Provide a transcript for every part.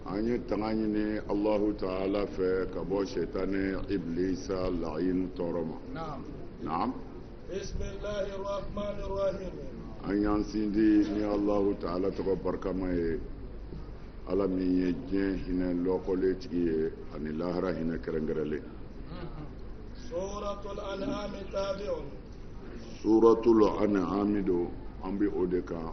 an ye tanga ɲini alahu taala fɛ ka bɔ sɛtane iblisa la'inu tɔɔrɔ ma naam an y'an sindi ni alahu taala tɔgɔ barikama ye ala min ye diɲɛ hinɛ lɔkɔlen tigi ye ani lahara hinɛ kɛrɛnkɛrɛnlen suratul an'ami tabi'un suratul an'ami don an bɛ o de kan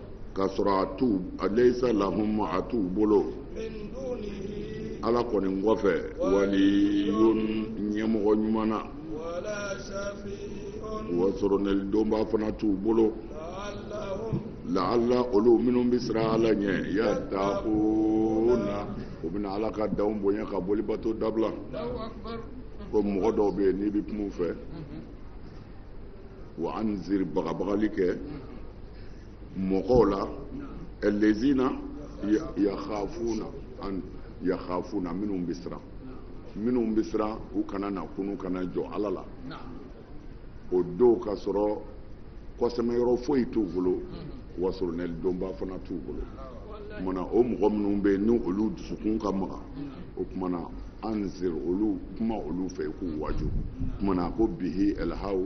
k'a sɔrɔ a t'u a leyisa lahum a t'u bolo ala kɔni kɔfɛ waliyun ɲɛmɔgɔ ɲuman na wa soronɛlidonba fana t'u bolo laala olu minnu bɛ siran ala ɲɛ yatakuna u bɛna ala ka danw bonya ka boli bato dabila ko mɔgɔ dɔw bɛ yen n'i bɛ kuma u fɛ wa anziri bagabagali kɛ mɔgɔw la lezina yakhafuna an yakhafuna minnu bɛ siran minnu bɛ siran u kana na kunu ka na jɔ ala la o don k'a sɔrɔ kɔsɛmɛyɔrɔ foyi t'u bolo mm-hmm. wa soronɛlidonba fana t'u bolo o kuma na o mɔgɔ minnu bɛ yen ni olu dusukun ka maga mm-hmm. o kuma na anziri olu kuma olu fɛ i k'u waaju o kuma na ko bihi ɛlhaw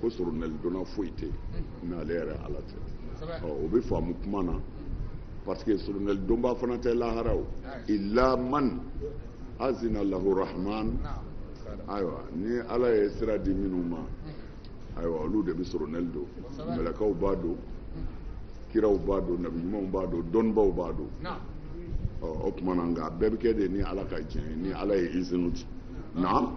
ko soronɛlidonna foyi tɛ yen n'ale yɛrɛ ala tɛ o bɛ faamu kuma na parce que soronɛlidonba fana tɛ lahara o illa man azina lahu rahman ayiwa ni ala ye sira di minnu ma ayiwa olu de bɛ soronɛli don mɛlɛkaw b'a don kiraw b'a don nabi ɲumanw b'a don dɔnnibaw b'a don o tuma na nka bɛɛ bɛ kɛ de ni ala ka diɲɛ ye ni ala ye izinu di naam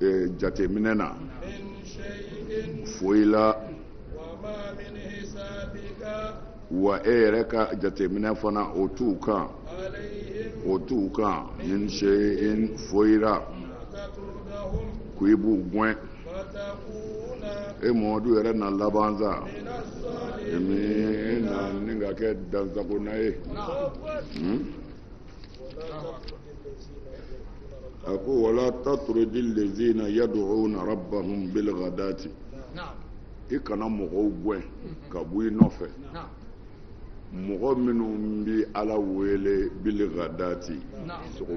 eh, jateminɛ na foyi la wa e yɛrɛ ka jateminɛ fana o t'u kan min shayin foyi la ko i b'u gɛn e mɔmadu yɛrɛ na laban sa min na ni ka kɛ dansagonna ye. a ko wala tatrudi lezina yaduuna rabbahum bilgadati i kana mɔgɔw gɛn ka bɔ i nɔfɛ mɔgɔ minnu bɛ ala wele bilgadati sogo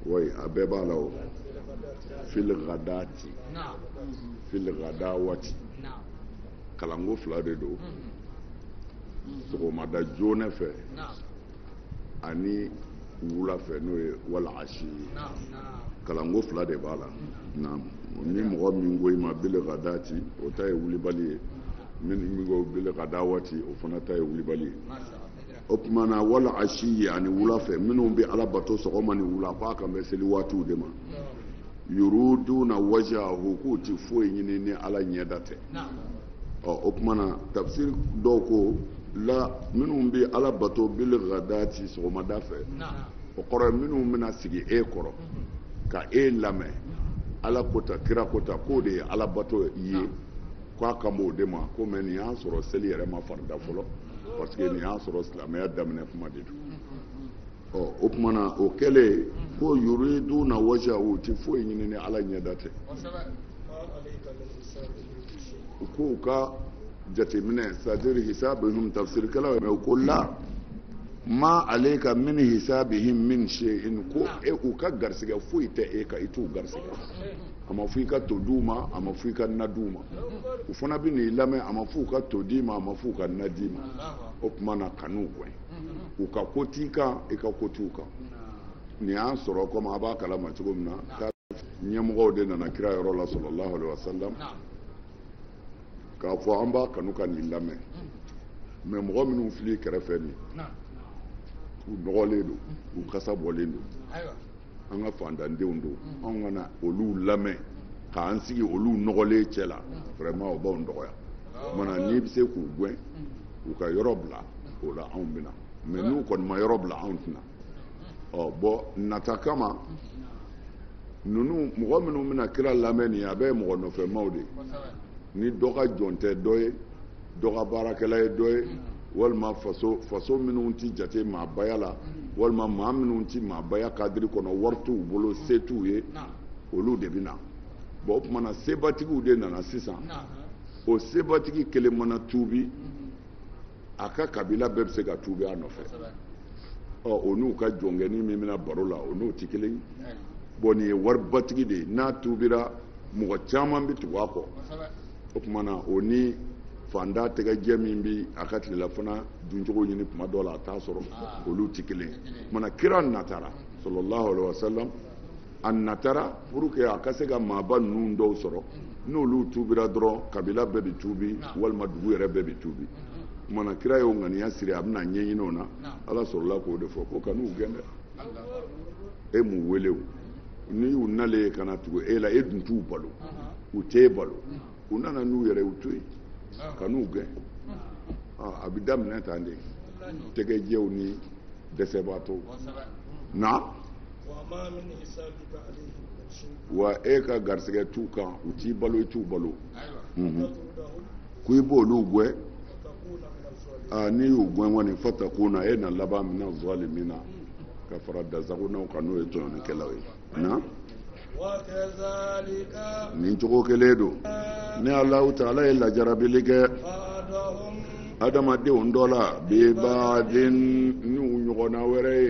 wayi a bɛɛ b'a la o filgadati filgadawati kalanko fila de don sɔgɔmada joona fɛ ani wula fɛ n'o ye wal ashiyi kalanko fila de b'a la naam ni mɔgɔ min ko i ma bil ghadati o ta ye wulibali ye min min ko bil ghadawati o fana ta ye wulibali ye o tuma na wal ashiyi ani wula fɛ minnu bɛ ala bato sɔgɔma ni wula k'a kan bɛ seli waatiw de ma yuriduna wajhahu k'u ti foyi ɲini ni ala ɲɛda tɛ ɔ o tuma na tafsiri dɔw ko la minnu bɛ ala bato bil ghadati sɔgɔmada fɛ o kɔrɔ ye minnu bɛna sigi e kɔrɔ ka e lamɛn ala ko tan kira ko tan k'o de ye ala bato ye k'a kan b'o de ma kɔmi nin y'a sɔrɔ seli yɛrɛ ma farida fɔlɔ parce que nin y'a sɔrɔ silamɛya daminɛ kuma de don ɔ o tuma na o kɛlen ko yuriduna wajhahu u tɛ foyi ɲini ni ala ɲɛda tɛ u k'u ka jateminɛ c'est-à-dire hisabihim tafsirikɛlaw mɛ u ko la ma alayka min hisabihim min shay'in ko u ka garisigɛ foyi tɛ e kan i t'u garisigɛ a ma fɔ i ka to di u ma a ma fɔ i ka na di u ma u fana bɛ n'i lamɛn a ma fɔ u ka to d'i ma a ma fɔ u ka na d'i ma o tuma na kan'u gɛn u ka ko t'i kan i ka ko t'u kan nin y'a sɔrɔ kɔmi a b'a kalama cogo min na ɲɛmɔgɔw de nana kira yɔrɔ la sallallahu alaihi wasallam k'a fɔ an b'a kanu ka n'i lamɛn mais mɔgɔ minnu fil'i kɛrɛfɛ nin u nɔgɔlen don u kasa bɔlen don an ka fantandenw don mm. anw ka na olu lamɛn k'an sigi olu nɔgɔlen cɛ la mm. vraiment o b'anw dɔgɔya o tuma na n'i bɛ se k'u gɛn mm. u ka yɔrɔ bila o la anw bɛ na mais n'u kɔni ma yɔrɔ bila anw tɛ na ɔ bɔn nata kama ninnu mɔgɔ minnu bɛna kira lamɛn nin ye a bɛɛ ye mɔgɔ nɔfɛmaw de ye ni dɔ ka jɔn tɛ dɔ ye dɔ ka baarakɛla ye dɔ ye walima faso minnu tɛ jate maabaya la walima maa minnu tɛ maabaya kadiri kɔnɔ wari t'u bolo se t'u ye olu de bɛ na bɔn o tuma na sebatigiw de nana sisan o sebatigi kelen mana tuubi a ka kabila bɛɛ bɛ se ka tuubi a nɔfɛ ɔ o n'u ka jɔnkɛni min bɛ na baro la o n'o tɛ kelen ye bɔn nin ye waribatigi de ye n'a tuubira mɔgɔ caman bɛ tugu a kɔ o tuma na o ni fantan tɛgɛjɛ min bɛ a ka tilelafana duncogo ɲini tuma dɔ la a t'a sɔrɔ ah. olu tɛ kelen ye o tuma na kira natara sallallahu alayhi wa sallam a natara pour que a ka se ka maaba ninnu dɔw sɔrɔ n'olu tuubira dɔrɔn kabila bɛɛ bɛ tuubi ah. walima dugu yɛrɛ bɛɛ bɛ tuubi o tuma na kira y'o ŋaniya siri a bɛna ɲɛɲini o na ala sɔrɔla k'o de fɔ ko kan'u gɛn dɛ e m'u wele o ni u nalen ye ka na tugu e la e dun t'u balo u t'e balo u nana n'u yɛrɛ u to yen kan'u gɛn a bɛ daminɛ tan de tɛgɛjɛw ni dɛsɛbaatɔw na wa e ka garisɛgɛ t'u kan u t'i balo i t'u balo k'i b'olu gɛn aa n'i y'u gɛn kɔni fatakuna e na laban mina zalimina ka fara dansagonnaw kan n'o ye tɔɲɔnikɛlaw ye na nin cogo kelen don ne alahu taala ye lajarabili kɛ adamadenw dɔ la bi ba'din n'u ɲɔgɔnna wɛrɛ ye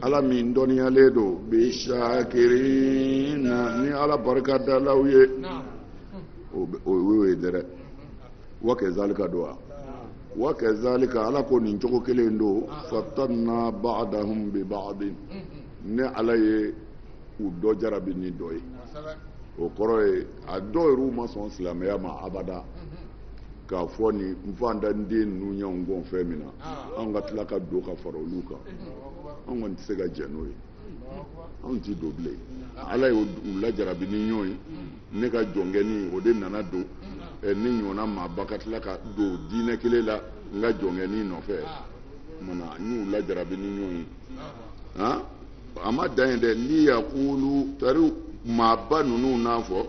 ala min dɔnniyalen don bi sakirina ni ala barikadalaw ye o y'o ye dɛrɛ wa kazalika don wa wa kazalika ala ko nin cogo kelen don fatanna ba'dahum bi ba'din ne ala ye u dɔ jarabi ni dɔ ye o kɔrɔ ye a dɔw yɛrɛ ma sɔn silamɛya ma abada k'a fɔ nin faantanden ninnu y'anw kɔn fɛn min na anw ka tila ka don ka fara olu kan anw kɔni tɛ se ka jɛ n'o ye anw tɛ don bilen ala y'u lajarabi ni ɲɔgɔn ye ne ka jɔnkɛni o de nana don ne ɲɔgɔnna maaba ka tila ka don diinɛ kelen la n ka jɔnkɛni nɔfɛ kumana n y'u lajarabi ni ɲɔgɔn ye han a ma dan yen dɛ liyakulu tari maaba ninnu n'a fɔ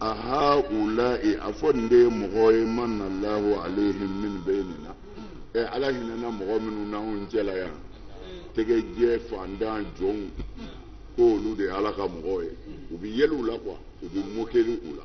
ahaulayi a fɔ nin de ye mɔgɔ ye manna lahu alehim min bayinina ɛ eh, ala hinɛna mɔgɔ minnu n'anw cɛla yan tɛgɛjɛ faantan jɔnw k'olu de ye ala ka mɔgɔw ye u bɛ yɛlɛ u la kuwa u bɛ mokeli u la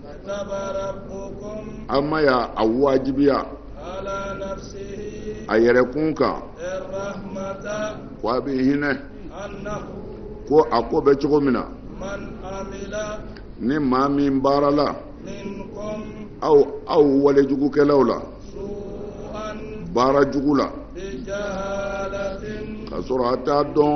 an ma y'a a wajibiya a yɛrɛkun kan ko a bɛ hinɛ ko a ko bɛ cogo min na ni maa min baarala aw aw walejugukɛlaw la baara jugu la ka sɔrɔ a t'a dɔn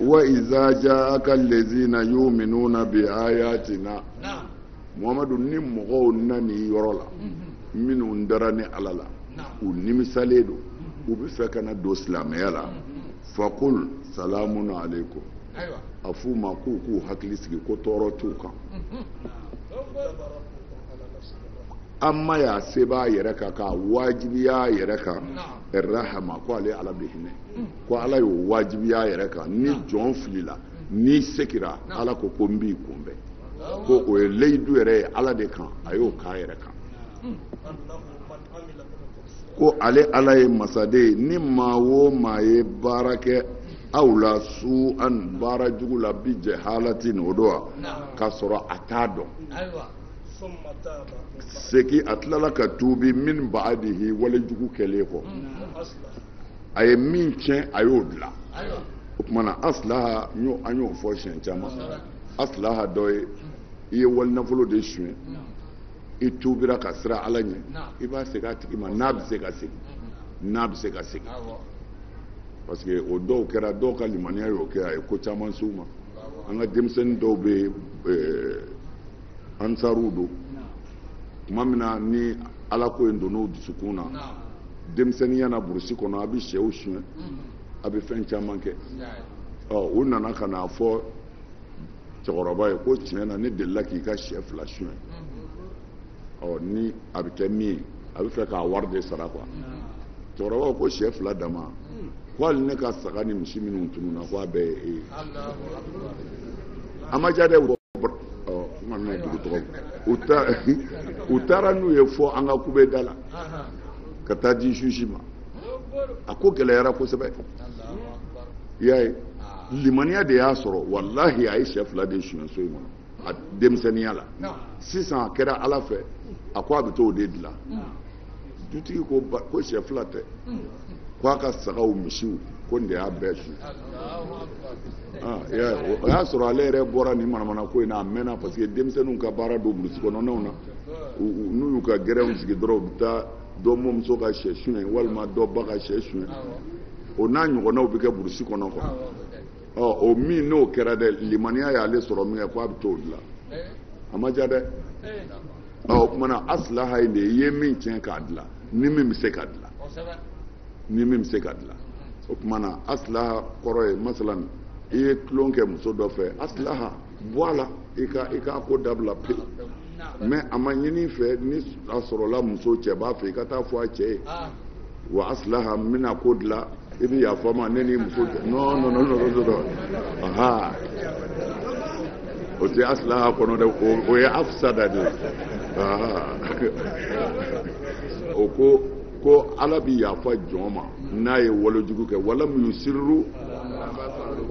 wa iza ja aka lazina yuminuna bi ayatina muhammadu ni mɔgɔw nan'i yɔrɔ la mhm. minnu dara ne ala la u nimisalen don mhm. u bɛ fɛ ka na don silamɛya la mhm. fakul salamun alaikum a f'u ma k'u k'u hakili sigi ko tɔɔrɔ t'u kan an ma y'a sɛbɛn a yɛrɛ kan k'a wajibiya a yɛrɛ kan rahama ko ale ala bɛ hinɛ ko ala y'o wajibiya a yɛrɛ kan ni jɔn filila n'i sekira ala ko ko n b'i kunbɛn ko o ye leyidu yɛrɛ ye ala de kan a y'o k'a yɛrɛ kan ko ale ala ye masa de ye ni maa o maa ye baara kɛ aw la suu'an baara jugu la bijahalatin o don wa k'a sɔrɔ a t'a dɔn seki a tilala ka tuubi min baadihi walejugu kɛlen kɔ a ye min tiɲɛ a y'o dilan o tuma na asilaha an y'o fɔ siɲɛ caman asilaha dɔ ye i ye wali nafolo de suɲɛ i tuubira ka siran ala ɲɛ i b'a segin a tigi ma n'a bɛ se ka segin n'a bɛ se ka segin parce que o dɔw kɛra dɔw ka limaniya y'o kɛ a ye ko caman s'u ma an ka denmisɛnnin dɔw bɛ eh, ansaruw don tuma min na ni ala ko in donn'o dusukun na denmisɛnninya na burusi kɔnɔ a bɛ sɛw suɲɛ a bɛ fɛn caman kɛ ɔ u nana ka n'a fɔ cɛkɔrɔba ye ko tiɲɛ na ne delila k'i ka sɛ fila suɲɛ ɔ ni a bɛ kɛ min ye a bɛ fɛ k'a wari de sara quoi cɛkɔrɔba ko sɛ fila dama ko hali ne ka saga ni misi minnu tununna ko a bɛɛ ye e ye a ma diya dɛ u taara n'u ye fɔ an ka kubeda la ka taa di juge ma a ko gɛlɛyara kosɛbɛ i y'a ye limaniya de y'a sɔrɔ walahi a ye sɛ fila de suɲɛ so in kɔnɔ a denmisɛnninya la sisan a kɛra ala fɛ a ko a bɛ t'o de dilan dutigi ko sɛ fila tɛ ko a ka sagaw misiw ko nin de y'a bɛɛ suɲɛ o y'a sɔrɔ ale yɛrɛ bɔra nin manamana ko in na a mɛnna parce que denmisɛnninw ka baara don burusi kɔnɔnaw na n'u y'u ka gɛrɛnw sigi dɔrɔn u bɛ taa dɔ mɔmuso ka sɛ suɲɛ walima dɔ ba ka sɛ suɲɛ o n'a ɲɔgɔnnaw bɛ kɛ burusi kɔnɔ quoi o min n'o kɛra dɛ limaniya y'ale sɔrɔ min kɛ ko a bɛ t'o dilan a ma diya dɛ o tuma na asilaha in de i ye min tiɲɛ k'a dilan ni min bɛ se ka dilan ni min bɛ se ka dilan o tuma na asilaha kɔrɔ ye masalan i ye tulon kɛ muso dɔ fɛ asilaha bɔ a la i ka i k'a ko dabila pewu mais a ma ɲini i fɛ ni a sɔrɔla muso cɛ b'a fɛ i ka taa fɔ a cɛ ye wa asilaha n bɛna ko dilan i bɛ yafa n ma ne n'i muso cɛ non non non non non aha o tɛ asilaha kɔnɔ dɛ o ye afisada de ye aha o ko. ko ala bɛ yafa jɔn ma n'a ye walejugu kɛ walam yusirru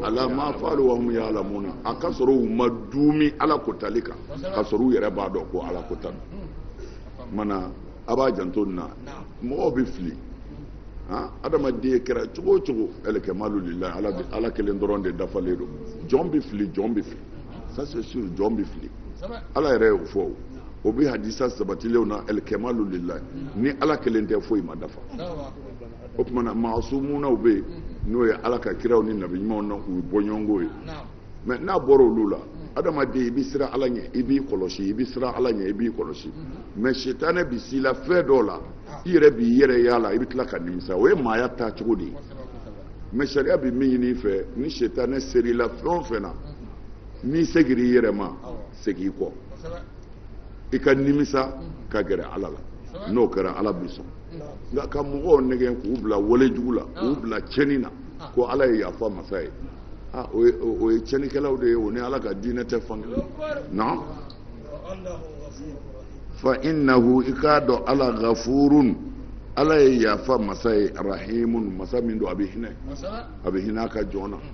ala ma faalu wa hum ya'lamuna a ka sɔrɔ u ma duumi ala ko tali kan ka sɔrɔ u yɛrɛ b'a dɔn ko ala ko tan mana a b'a janto nin na mɔgɔw bɛ fili han adamaden kɛra cogo o cogo alkamalu lillahi ala kelen dɔrɔn de dafalen don jɔn bɛ fili jɔn bɛ fili ça c'est sûr jɔn bɛ fili ala yɛrɛ y'o fɔ o o bɛ hadisa sabatilenw na alkamalu lillahi ni ala kelen tɛ foyi ma dafa o tuma na maasumunaw bɛ yen n'o ye ala ka kiraw ni nabi ɲumanw n'u bɔɲɔgɔnko ye mais n'a bɔra olu la adamaden i bɛ siran ala ɲɛ i b'i kɔlɔsi i bɛ siran ala ɲɛ i b'i kɔlɔsi mais sitanɛ bɛ s'i la fɛn dɔw la i yɛrɛ b'i yɛrɛ y'a la i bɛ tila ka nimisa o ye maaya taa cogo de ye mais sariya bɛ min ɲini i fɛ ni sitanɛ ser'i la fɛn o fɛn na n'i segira i yɛrɛ ma segin i kɔ i ka nimisa ka gɛrɛ ala la n'o kɛra ala bi sɔn nka ka mɔgɔw nɛgɛn k'u bila wale jugu la k'u bila cɛni na ko ala ye yafa masa ye o ye cɛnikɛlaw de ye o ni ala ka diinɛ tɛ fan kelen na fa innahu i k'a dɔn ala gafurun ala ye yafa masa ye rahimun masa min don a bɛ hinɛ a bɛ hinɛ a ka jɔn na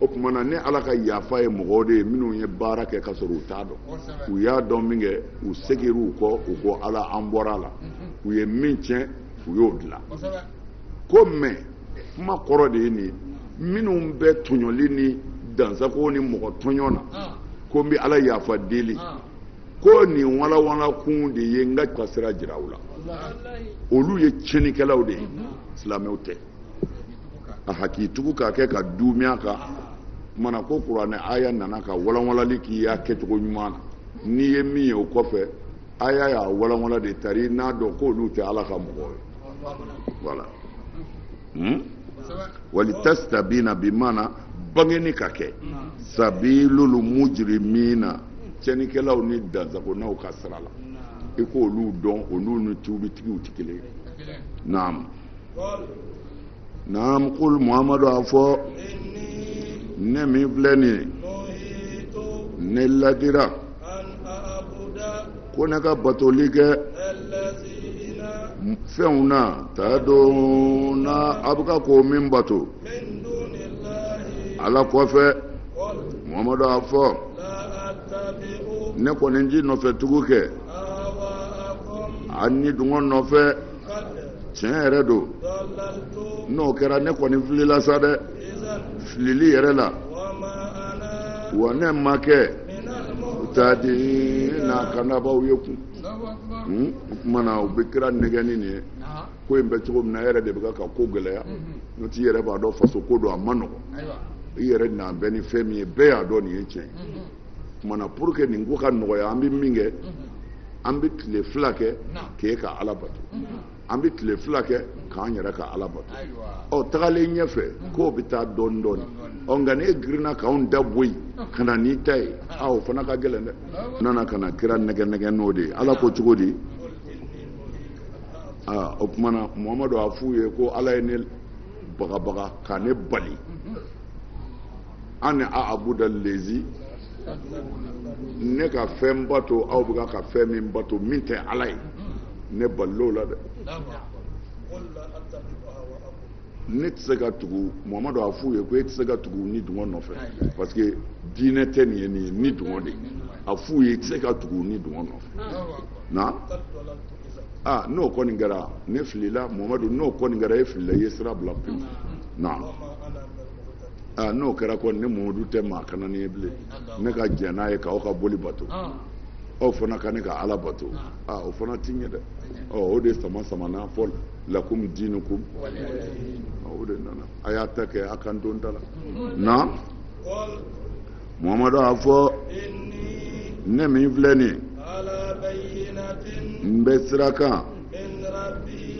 o kuma na ne ala ka yafa ye mɔgɔw de ye minnu ye baara kɛ ka sɔrɔ u t'a dɔn u y'a dɔn min kɛ u segir'u u kɔ u ko ala an bɔra a la mhm. u ye min tiɲɛ u y'o dilan ko mɛ kuma kɔrɔ de ye nin minnu bɛ tɔɲɔli ni dansago ni mɔgɔ tɔɲɔ na ah. ko n bɛ ala yafa deli ah. ko nin walawala kun de ye n ka ka sira jira u la olu ye tiɲɛnikɛlaw de ye mhm. silamɛw tɛ a hakɛ tugu k'a kɛ ka duumi a kan mana ko kuranɛ aya nana ka walanwalali k'i y'a kɛcogo ɲuman na n'i ye min ye o kɔfɛ aya y'a walanwala de tari n'a dɔn k'olu tɛ ala ka mɔgɔ ye voilà hmm? walitastabina bimana bangeni ka kɛ sabilul mujrimina cɛnikɛlaw ni dansagonaw ka sira la i k'olu dɔn olu ni tuubitigiw tɛ kelen ye naam naam kul muhammadu a fɔ ne min filɛ nin ye ne ladira ko ne ka batoli kɛ fɛnw na tad'una a bɛ ka ko min bato ala kɔfɛ muhammadu a fɔ ne kɔni ti nɔfɛ tugu kɛ a ni dungɔ nɔfɛ tiɲɛ yɛrɛ don n'o kɛra ne kɔni filila sa dɛ filili yɛrɛ la wa ne ma kɛ muhtadina kanabaaw ye kun hmm? o tuma na u bɛ kira nɛgɛ ni nin ye ko in bɛ cogo min na e yɛrɛ de bɛ ka ko gɛlɛya n'o t'i yɛrɛ b'a dɔn faso ko don a man nɔgɔn i yɛrɛ na bɛn ni fɛn min ye bɛɛ y'a dɔn nin ye tiɲɛ ye o tuma na pour que nin ko ka nɔgɔya an bɛ min kɛ an bɛ tile fila kɛ k'e ka ala bato an bɛ tile fila kɛ k'an yɛrɛ ka ala bato ɔ tagalen ɲɛfɛ k'o bɛ taa dɔɔni dɔɔni ɔ nka n'e girinna k'anw da bɔ yen ka na n'i ta ye a o fana ka gɛlɛn dɛ u nana ka na kira nɛgɛnɛgɛ n'o de ye ala ko cogo di aa o tuma na muhamadu a f'u ye ko ala ye ne bagabaga ka ne bali an ni a abuda lezi ne ka fɛn bato aw bɛ ka fɛn min bato min tɛ ala ye ne balil'o la dɛ ne tɛ se ka tugu mamadu a f'u ye ko e tɛ se ka tugu ni dungɔ nɔfɛ parce que diinɛ tɛ nin ye nin ye ni dungɔ de a f'u ye e tɛ se ka tugu ni dungɔ nɔfɛ na aa n'o kɔni kɛra ne filila mamadu n'o kɔni kɛra e filila i ye sira bila pewu na. aa n'o kɛra kɔni ne mɔmadu tɛ maa kananen ye bilen ne ka jɛn n'a ye k'aw ka boli bato aw fana ka ne ka ala bato aa o fana ti ɲɛ dɛ ɔ o de samasamana fɔ lakum dinukum o de nana a y'a ta kɛ a ka n to n ta la na muhamadu a fɔ ne min filɛ nin n bɛ sira kan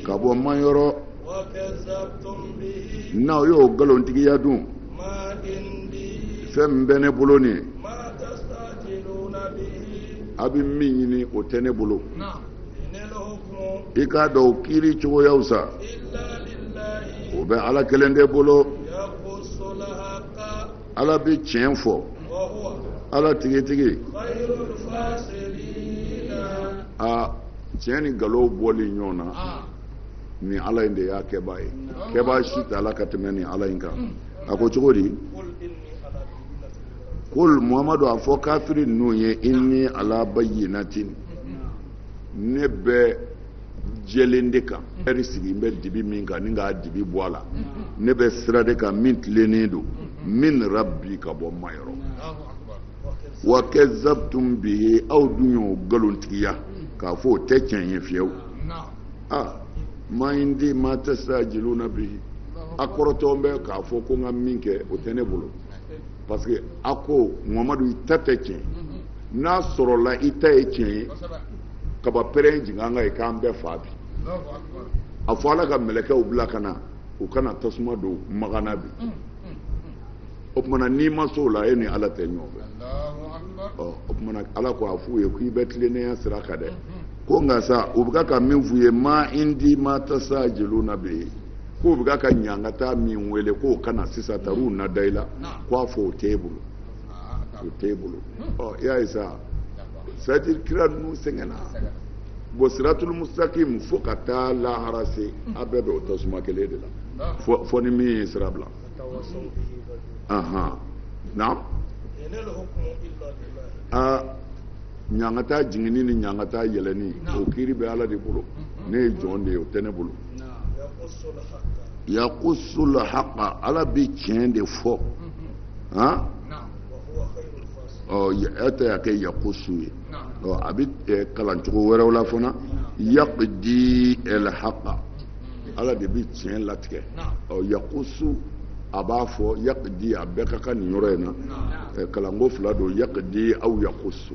ka bɔ n ma yɔrɔ n'aw y'o nkalontigiya dun fɛn min bɛ ne bolo nin a bɛ min ɲini o tɛ ne bolo i k'a dɔn o kiiri cogoyaw sa o bɛ ala kelen de bolo ala bɛ tiɲɛ fɔ ala tigitigi tiɲɛ ni nkalon bɔli ɲɔgɔn na ni ala in de y'a kɛbaa ye kɛbaa si t'a la ka tɛmɛ ni ala in kan a ko cogo di kul muhamadu a fɔ kafiri ninnu ye inni ala bayyinatin ne bɛ jɛlen de kan ɛri sigi n bɛ dibi min kan ni k'a dibi bɔ a la ne bɛ sira de kan min tilennen don min rabbi ka bɔ n ma yɔrɔ wa kazabtum bihi aw dun y'o nkalontigiya k'a fɔ o tɛ tiɲɛ ye fiyewu ma indi ma tastajiluna bihi a kɔrɔtɔ bɛ k'a fɔ ko n ka min kɛ o tɛ ne bolo parce que a ko mamadu i ta tɛ tiɲɛ n'a sɔrɔla i ta ye tiɲɛ ye kaba pɛrɛn jigin an kan ye k'an bɛɛ fa bi a fɔ ala ka mɛlɛkɛw bila ka na u ka na tasuma don makan na bi mm, mm, mm. o tumana n'i ma s'o la e ni ala tɛ ɲɔgɔn fɛ ɔ o tumana ala ko a f'u ye k'i bɛ tilennenya sira kan dɛ ko nka sa u bɛ ka min f'u ye ma indi ma tastajiluna bihi k'u bɛ ka ɲangata min wele k'o ka na sisan taruw na da i la k'a fɔ o t'e bolo. o tɛ e bolo ɔ i y'a ye sa c'est à dire kira ninnu sɛgɛnna bon siratul mustakim fo ka taa lahara se a bɛɛ bɛ o tasuma kelen de la fo ni min ye sira bila naam aa ɲangata jiginni ni ɲangata yɛlɛni o kiiri bɛ ala de bolo ne ye jɔn de ye o tɛ ne bolo yakusul haqa ala bɛ tiɲɛ de fɔ ha an ta y'a kɛ yakusu ye a bɛ kalancogo wɛrɛw la fana yaqdi alhaqa ala de bɛ tiɲɛ latigɛ yakusu a b'a fɔ yaqdi a bɛɛ ka kan nin yɔrɔ in na kalanko fila don yaqdi aw yakusu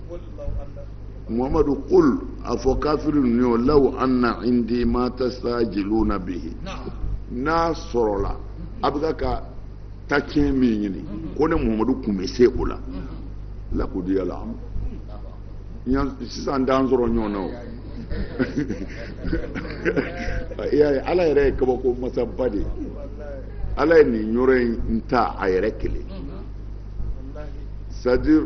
muhammadu kul a fɔ kafiri ninnu ye law anna indi ma tastajiluna bihi n'a sɔrɔla a bɛ ka ka tacɛn min ɲini ko ne muhammadu kun bɛ se o la lakudiya la sisan t'an sɔrɔ ɲɔgɔn na o ala yɛrɛ ye kabako masaba de ye ala ye nin yɔrɔ in ta a yɛrɛ kelen c'est à dire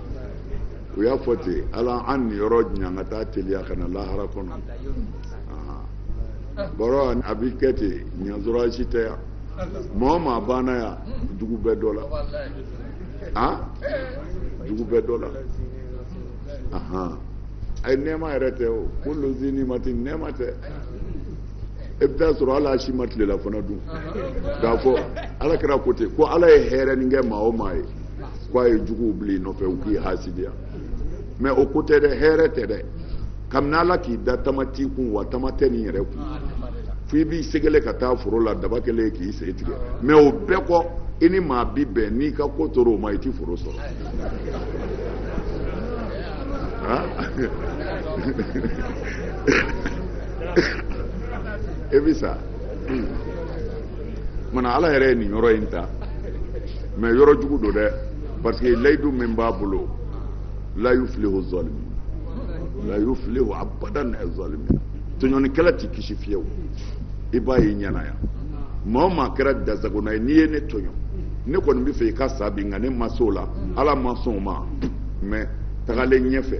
u y'a fɔ ten ala an niyɔrɔ ɲangata teliya ka na lahara kɔnɔ baara a bi kɛ ten ɲasɔrɔ si tɛ yan maa o maa banna yan dugu bɛɛ dɔ la han dugu bɛɛ dɔ la ahan ayi nɛɛma yɛrɛ tɛ o kulu zi nimatin nɛɛma tɛ e bɛ t'a sɔrɔ ala si ma tilelafana dun k'a fɔ ala kɛra ko ten ko ala ye hɛrɛnin kɛ maa o maa ye ko a ye juguw bila i nɔfɛ u k'i hasidiya mais o ko tɛ dɛ hɛrɛ tɛ dɛ kabini ala k'i da tama t'i kun wa tama tɛ nin yɛrɛ kun fo i b'i segele ka taa foro la daba kelen k'i sen tigɛ mais o bɛɛ kɔ i ni maa bi bɛn n'i ka ko tora o ma i ti foro sɔrɔ e bɛ sa mana ala yɛrɛ ye nin yɔrɔ in ta mais yɔrɔ jugu don dɛ parce que layidu min b'a bolo la yuflihu zalimi la yuflihu abadan zalimi tɔɲɔnikɛla ti kisi fiyewu i b'a ye i ɲɛ na yan maa o maa kɛra dasagona ye n'i ye ne tɔɲɔ ne kɔni b'a fɛ i ka sa bi nka ne ma se o la ala ma sɔn o ma mais tagalen ɲɛfɛ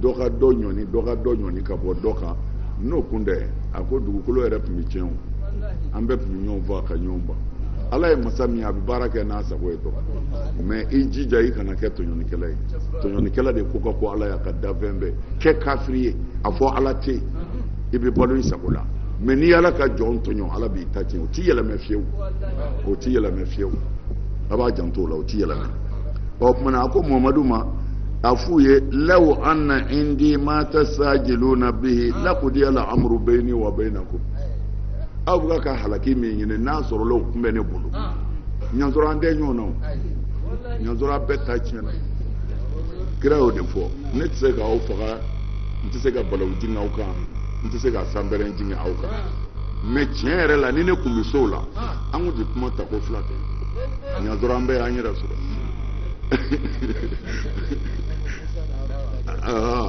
dɔ ka dɔ ɲɔni dɔ ka dɔ ɲɔni ka bɔ dɔ kan n'o kun tɛ a ko dugukolo yɛrɛ tun bɛ tiɲɛ o an bɛɛ tun bɛ ɲɔgɔn faga ka ɲɔgɔn ban ala ye masa min ye a bɛ baara kɛ n'a sago ye dɔrɔn mɛ i jija i kana kɛ tɔɲɔnikɛla ye tɔɲɔnikɛla de ko ka go ala y'a ka danfɛn bɛɛ kɛ kafiri ye a fɔ ala tɛ yen i bɛ balo i sago la mɛ n'i ala ka jɔn tɔɲɔ ala b'i ta tiɲɛ o ti yɛlɛmɛ fiyewu o ti yɛlɛmɛ fiyewu a b'a janto o la o ti yɛlɛmɛ o tuma na a ko mamadu ma a f'u ye law anna indi ma tasajiluna bihi lakudiyal amuru bayni wa baynakum aw bɛ ka halaki min ɲini n'a sɔrɔla o kun bɛ ne bolo ɲansɔrɔ an tɛ ɲɔgɔn na o ɲansɔrɔ an bɛɛ ta tiɲɛna kira y'o de fɔ ne tɛ se k'aw faga n tɛ se ka balawu jigin aw kan n tɛ se ka sanbɛrɛn jigin aw kan mɛ tiɲɛ yɛrɛ la ni ne kun bɛ s'o la an kun tɛ kuma tako fila kɛ ɲansɔrɔ an bɛɛ y'an yɛrɛ sɔrɔ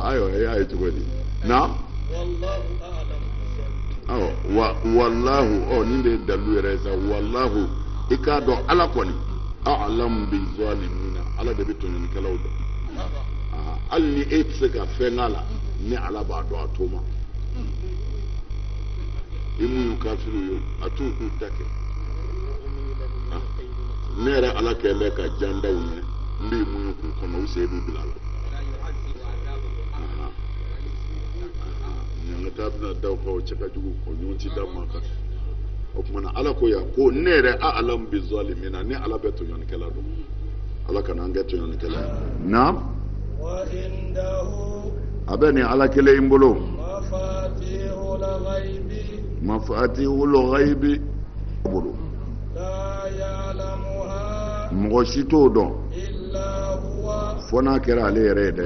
ayiwa e y'a ye cogo di na wa walahu ɔ nin de ye dalu yɛrɛ ye sa walahu i k'a dɔn ala kɔni alamu bi zalimina ala de bɛ tɔɲɔnikɛlaw dɔn hali ni e tɛ se ka fɛn k'a la ni ala b'a dɔn a t'o ma i muɲu kafiriw ye a t'u k'u ta kɛ ne yɛrɛ ala kɛlen bɛ ka jan da u ɲɛ n bɛ muɲu k'u kɔnɔ u sen b'u bila a la ɲangata bɛna da u kan o cɛ ka jugu o ɲɔgɔn ti da maa kan o tuma na ala ko yan ko ne yɛrɛ alamu bi zalimina ni ala bɛ tɔɲɔnikɛla dɔn ala kana an kɛ tɔɲɔnikɛla ye naam a bɛ nin ala kelen in bolo mafatihul ghaibi bolo mɔgɔ si t'o dɔn fo n'a kɛra ale yɛrɛ ye dɛ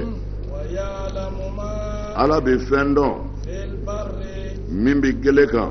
ala bɛ fɛn dɔn min bɛ gele kan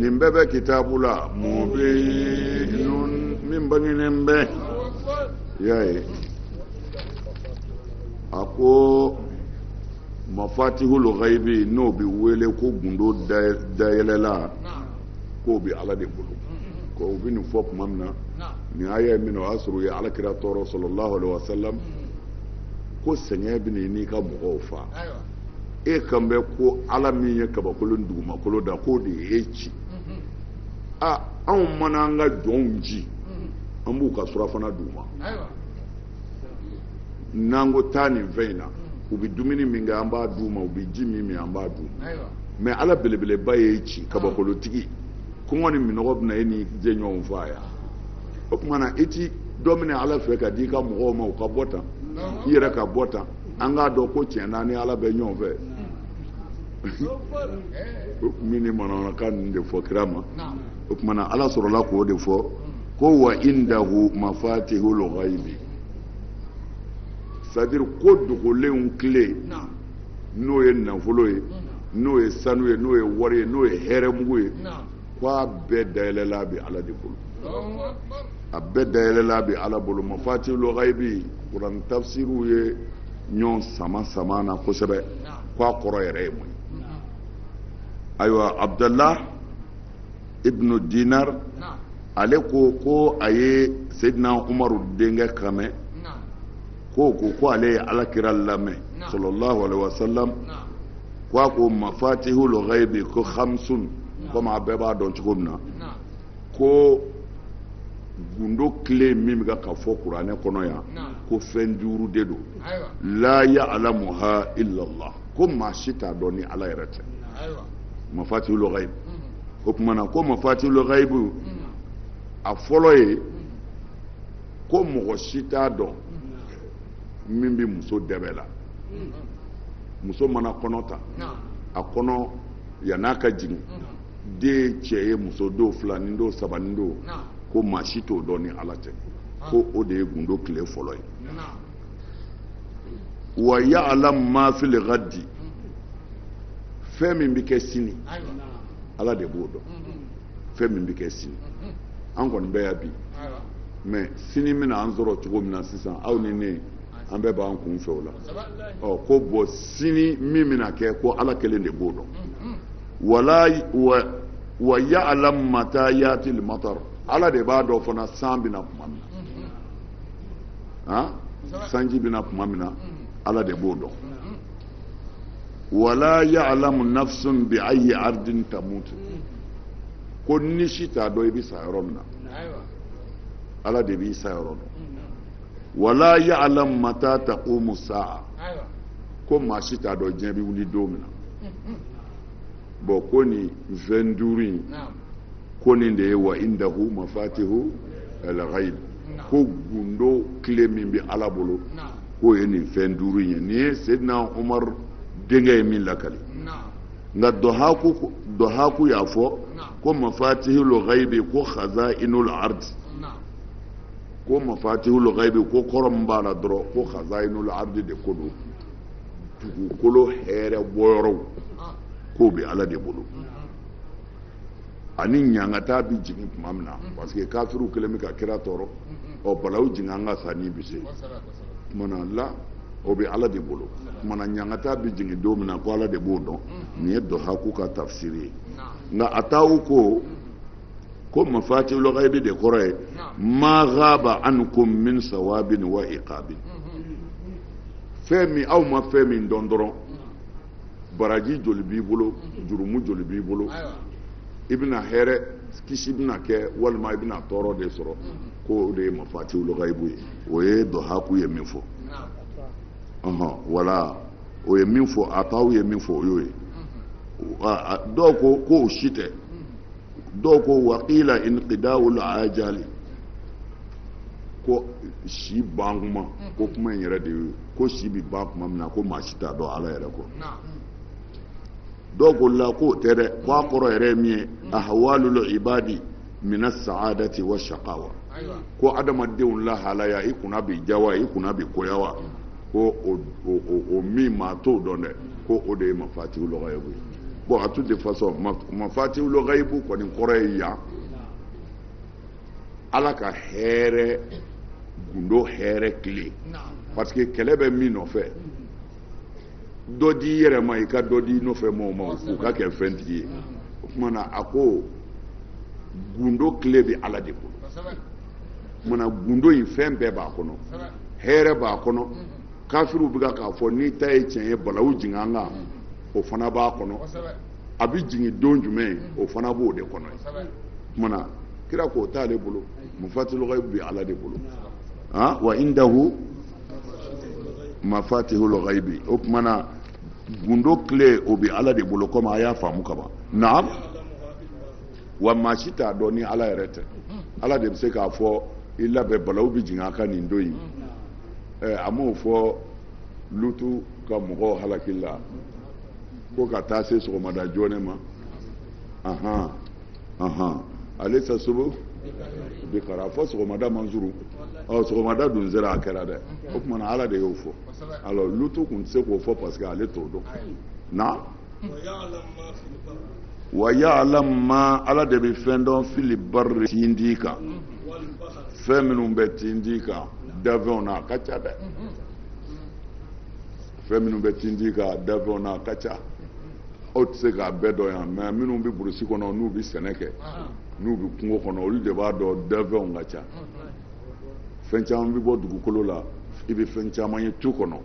nin bɛɛ bɛ kitabu la mubinun min bangenen bɛ y'a ye a ko mafatihul ghaibi n'o bɛ wele ko gundo dayɛlɛlan k'o bɛ ala de bolo ko u bɛ nin fɔ tuma min na nin aya ye min na o y'a sɔrɔ u ye ala kira tɔɔrɔ sallallahu alaihi wasallam ko sɛgɛn bɛ n'i ka mɔgɔw fa e kan bɛ ko ala min ye kabakolo ni dugumakolo da k'o de ye e ci a anw mana an ka jɔnw ci an b'u ka sirafana d'u ma n'an ko taa nin fɛn in na u bɛ dumuni min kɛ an b'a d'u ma u bɛ ji min min an b'a d'u ma mɛ ala belebeleba ye i ci kabakolotigi kɔngɔ ni minnɔgɔ bɛna e n'i jɛɲɔgɔnw faa yan o tuma na i ti dɔ minɛ ala fɛ ka di i ka mɔgɔw ma u ka bɔ tan i yɛrɛ ka bɔ tan an k'a dɔn ko tiɲɛ na i ni ala bɛ ɲɔgɔn fɛ u tun bɛ nin manamanakan ninnu de fɔ kira ma o tuma na ala sɔrɔla k'o de fɔ ko wa indahu mafatihul ghaibi c'est-à-dire ko dogolenw kile n'o ye nafolo ye n'o ye sanu ye n'o ye wari ye n'o ye hɛrɛmugu ye ko a bɛɛ dayɛlɛlan bɛ ala de bolo a bɛɛ dayɛlɛlan bɛ ala bolo mafatihul ghaibi kuran tafsiriw ye ɲɔgɔn sama sama na kosɛbɛ ko a kɔrɔ yɛrɛ ye mun ye ayiwa abudala ibnu dinar ale ko ko a ye seyidina umaru denkɛ kan mɛn ko ko ko ale ye alakira lamɛn sallallahu alaihi wasallam ko a ko mafatihul ghaibi ko khamsun komi a bɛɛ b'a dɔn cogo min na ko gundo kile min bɛ ka fɔ kuranɛ kɔnɔ yan ko fɛn duuru de don la ya'lamuha illa Allah ko maa si t'a dɔn ni ala yɛrɛ tɛ mafatihul ghaibi mm-hmm. o tuma na ko mafatihul ghaibi mm-hmm. a fɔlɔ ye mm-hmm. ko mɔgɔ si t'a dɔn min bɛ muso dɛbɛ la muso mana kɔnɔ ta a kɔnɔ yan'a ka jigin den cɛ ye muso don filanin don sabanin don ko maa si t'o dɔn ni ala tɛ ko o de ye gundo kile fɔlɔ ye wa ya'lam ma fil ghadi fɛn min bɛ kɛ sini ala de b'o dɔn fɛn min bɛ kɛ sini mhm. an kɔni bɛ yan bi mɛ sini bɛna an sɔrɔ cogo min na sisan aw ni ne an bɛɛ b'an kun fɛ o la ɔ ko bɔn sini min bɛna kɛ ko ala kelen de b'o dɔn mhm. wala wa wa ya'lam mata yati al-matar ala de b'a dɔn fana san bɛ na tuma min na mhm. sanji bɛ na tuma min na ala de b'o dɔn wala ya'lamu nafsun bi ayyi ardin tamut ko ni si t'a dɔn i bɛ sa yɔrɔ min na ala de b'i sayɔrɔ dɔn wala ya'lamu mata taqumu sa'a ko maa si t'a dɔn diɲɛ bɛ wuli don min na bɔn ko nin fɛn duuru in ko nin de ye wa indahu mafatihu alghaib ko gundo kile min bɛ ala bolo k'o ye nin fɛn duuru in ye nin ye sedina umar denkɛ ye min lakali nka dɔhaku y'a fɔ ko mafatihul ghaibi ko khazainul ard ko mafatihul ghaibi ko kɔrɔ min b'a la dɔrɔn ko khazainul ard de ko don dugukolo hɛrɛ bɔyɔrɔw k'o bɛ ala de bolo ani ɲangata bɛ jigin tuma min na mm-hmm. parce que kafiriw kɛlen bɛ ka kira tɔɔrɔ mm-hmm. ɔ balawu jigin an kan sa n'i bi se tuma na la o bɛ ala de bolo o tuma na ɲangata bɛ jigin don min na ko ala de b'o dɔn mm-hmm. nin ye dɔhaku ka tafsiri ye nka ataw ko ko mafatihul ghaibi de kɔrɔ ye ma ghaba ankum min sawabin wa iqabin fɛn min aw ma fɛn min dɔn dɔrɔn baraji joli b'i bolo jurumu joli b'i bolo i bɛna hɛrɛ kisi bɛna kɛ walima i bɛna tɔɔrɔ de sɔrɔ ko o de ye mafatihul ghaibu ye o ye dɔhaku ye min fɔ ɔhɔn wala o ye min fɔ ataw ye min fɔ o y'o ye dɔw ko ko o si tɛ dɔw ko waqila inqidaul ajali ko si ban kuma ko kuma in yɛrɛ de y'o ye ko si bɛ ban tuma min na ko maa si t'a dɔn ala yɛrɛ kɔ dɔw ko la k'o tɛ dɛ ko a kɔrɔ yɛrɛ ye min ye ahwalul ibadi mina saadati wa shaqawa ko adamadenw lahalaya i kunna bɛ diya wa i kunna bɛ goya wa ko o min maa t'o dɔn dɛ ko o de ye mafatihul ghaibu bon à toute façon mafatihul ghaibu kɔni kɔrɔ ye yan ala ka hɛrɛ gundo hɛrɛ kile parce que kɛlɛ bɛ min nɔfɛ dɔ di i yɛrɛ ma i ka dɔ di i nɔfɛ mɔgɔw ma u ka kɛ fɛntigi ye o tuma na a ko gundo kile bɛ ala de bolo o tuma na gundo in fɛn bɛɛ b'a kɔnɔ hɛrɛ b'a kɔnɔ kafiriw bɛ k'a fɔ n'i ta ye tiɲɛ ye balawu jigin an kan o fana b'a kɔnɔ a bɛ jigin don jumɛn o fana b'o de kɔnɔ o kumana kira k'o t'ale bolo mafatihul ghaib bi ala de bolo ah wa indahu mafatihul ghaibi o kumana gundo kile o bi ala de bolo komi a y'a faamu kaban naam wa maa si t'a dɔn ni ala yɛrɛ tɛ ala de bɛ se k'a fɔ i labɛn balawu bɛ jigin a kan nin don in ɛ a m'o fɔ lutu ka mɔgɔw halakili la ko ka taa se sɔgɔmada joona ma ahan ahan alaysa subhu bi qarib fɔ sɔgɔmada man surun ɔ sɔgɔmada dun sera a kɛra dɛ o tuma na ala de y'o fɔ alors lutu tun tɛ se k'o fɔ parce que ale t'o dɔn na wa ya'lam ma ala de bɛ fɛn dɔn fil barri tindi kan fɛn minnu bɛ tindi kan dafɛnw na a ka ca dɛ fɛn minnu bɛ tindi kan dafɛnw na a ka ca aw tɛ se k'a bɛɛ dɔn yan mais minnu bɛ burusi kɔnɔ n'u bɛ sɛnɛ kɛ n'u bɛ kungo kɔnɔ olu de b'a dɔn dafɛnw ka ca fɛn caman bɛ bɔ dugukolo la i bɛ fɛn caman ye tu kɔnɔ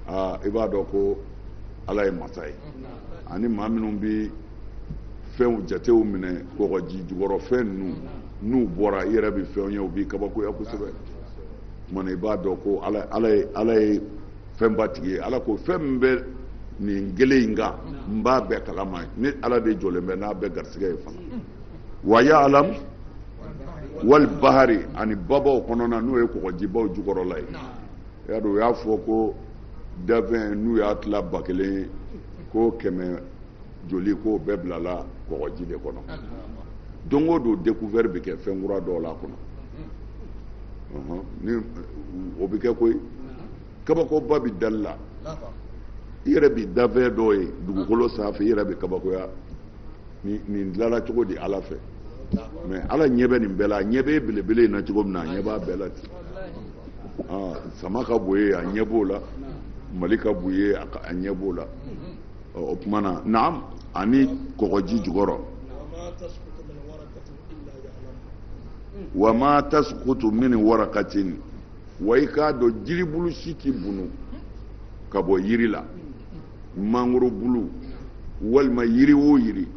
aa i b'a dɔn ko ala ye masa ye ani maa minnu bɛ fɛnw jatew minɛ kɔgɔji jukɔrɔ fɛn ninnu n'u bɔra i yɛrɛ bɛ fɛnw ye u b'i kabakoya kosɛbɛ Tuma na i b'a dɔn ko ala ye fɛnba tigi ye ala ko fɛn min bɛ nin gele in kan n b'a bɛɛ kalama ne ala de jɔlen bɛ n'a bɛɛ garisɛgɛ ye fana wa ya'lamu wal bahri ani babaw kɔnɔna n'o ye kɔgɔjibaw jukɔrɔla ye y'a dɔn u y'a fɔ ko dafɛn n'u y'a tila ba kelen ko kɛmɛ joli ko bɛɛ bilala kɔgɔji de kɔnɔ don o don découvert bɛ kɛ fɛn kura dɔw la a kɔnɔ ni o bɛ kɛ koyi kabakoba bɛ dali la i yɛrɛ bɛ dafɛn dɔw ye dugukolo sanfɛ i yɛrɛ bɛ kabakoya nin dilanna cogo di ala fɛ mais ala ɲɛ bɛ nin bɛɛ la a ɲɛ bɛ belebele in na cogo min na a ɲɛ b'a bɛɛ la ten sama ka bon ye a ɲɛ b'o la mali ka bon ye a ɲɛ b'o la o tuma na naam ani kɔgɔji jukɔrɔ wa ma tasqutu min waraqatin wa i k'a dɔn jiribulu si tɛ bunu ka bɔ yiri la mangoro bulu walima yiri o yiri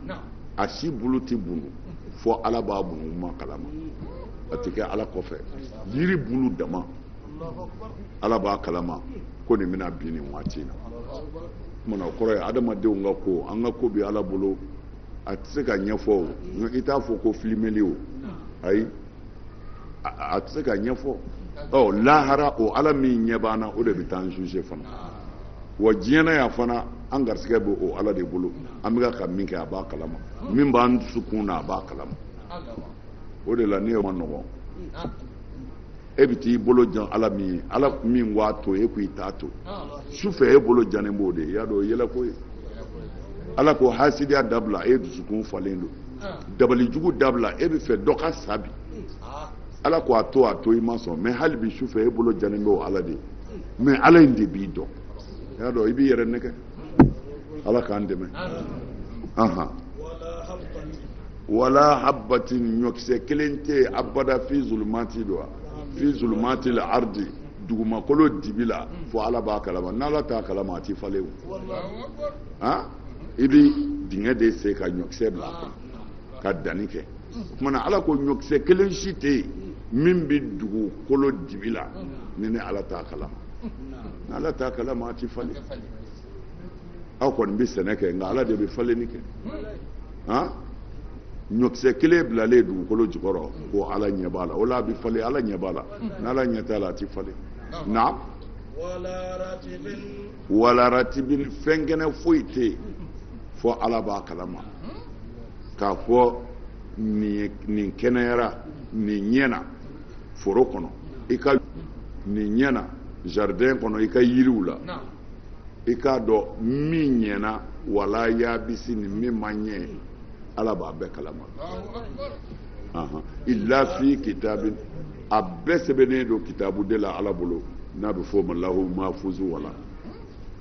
a si bulu tɛ bunu fo ala b'a bunu ma kalama a tɛ kɛ ala kɔfɛ yiri bulu dama ala b'a kalama ko nin bɛna bin nin waati in na o tuma na o kɔrɔ ye adamadenw ka ko an ka ko bɛ ala bolo a tɛ se ka ɲɛfɔ o i t'a fɔ ko filimeli o ayi a tɛ se ka ɲɛfɔ ɔ lahara o ala min ɲɛ b'an na o de bɛ taa an juger fana wa diɲɛ na yan fana an garisɛgɛ bɛ o ala de bolo an bɛ ka min kɛ a b'a kalama min b'an dusukun na a b'a kalama o de la ne maɲɔgɔn e bɛ t'i bolo jan ala min ye ala min ko a to e ko i t'a to su fɛ e bolo jannen b'o de ye y'a dɔn o ye yɛlɛko ye ala ko hasidiya dabila e dusukun falen don dabali jugu dabila e b'a fɛ dɔ ka sa bi ala ko a to a to i ma sɔn mais hali bi su fɛ e bolo jannen b'o ala de ye mais ala in de b'i dɔn y'a dɔn i b'i yɛrɛ nɛgɛn ala k'an dɛmɛ anhan wala habbatin ɲɔkisɛ kelen tɛ yen abada fi zulumati don wa fi zulumatil ardi dugumakolo dibi la fo ala b'a kalama n'ala t'a kalama a ti falen o han i bi dingɛ de sen ka ɲɔkisɛ bila a kɔnɔ ka danni kɛ o tumana ala ko ɲɔkisɛ kelen si tɛ yen min bɛ dugukolo dibi la ni ni ala t'a kalama ala t'a kalama a ti falen aw kɔni bɛ sɛnɛ kɛ nka ala de bɛ falenni kɛ han ɲɔkisɛ kelen bilalen dugukolo jukɔrɔ ko ala ɲɛ b'a la o la a bɛ falen ala ɲɛ b'a la n'ala ɲɛ t'a la a ti falen naam wala ratibin fɛn kɛnɛ foyi tɛ yen fo ala b'a kalama k'a fɔ nin kɛnɛyara nin ɲɛna foro kɔnɔ i ka nin ɲɛna jardin kɔnɔ i ka yiriw la i k'a dɔn min ɲɛna wala yaabisi ni min ma ɲɛ ala b'a bɛɛ kalama illa fi kitabin a bɛɛ sɛbɛnnen don kitabu de la ala bolo n'a bɛ fɔ o ma lahu mahfuzu wala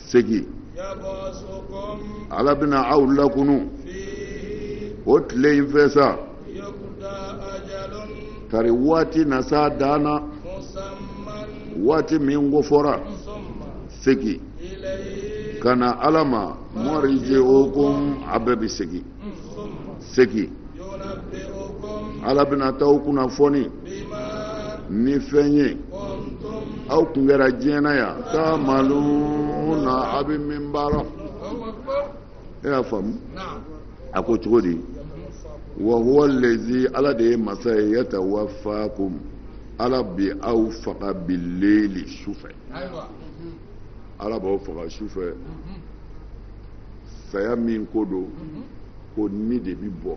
segin ala bɛna aw lakunu o tile in fɛ sa kari waati na sa dan na waati min kofɔra segin ka na ala ma marji'ukum a bɛɛ bɛ segin segin ala bɛna taa aw kunnafoni ni fɛn ye aw tun kɛra diɲɛ na yan taamaluna a bɛ min baara e y'a faamu a ko cogo di wa huwa lazi ala de ye masa ye yatawafakum ala bi aw faga bileeli su fɛ ala b'aw faga su fɛ. saya min ko don ko ni de bɛ bɔ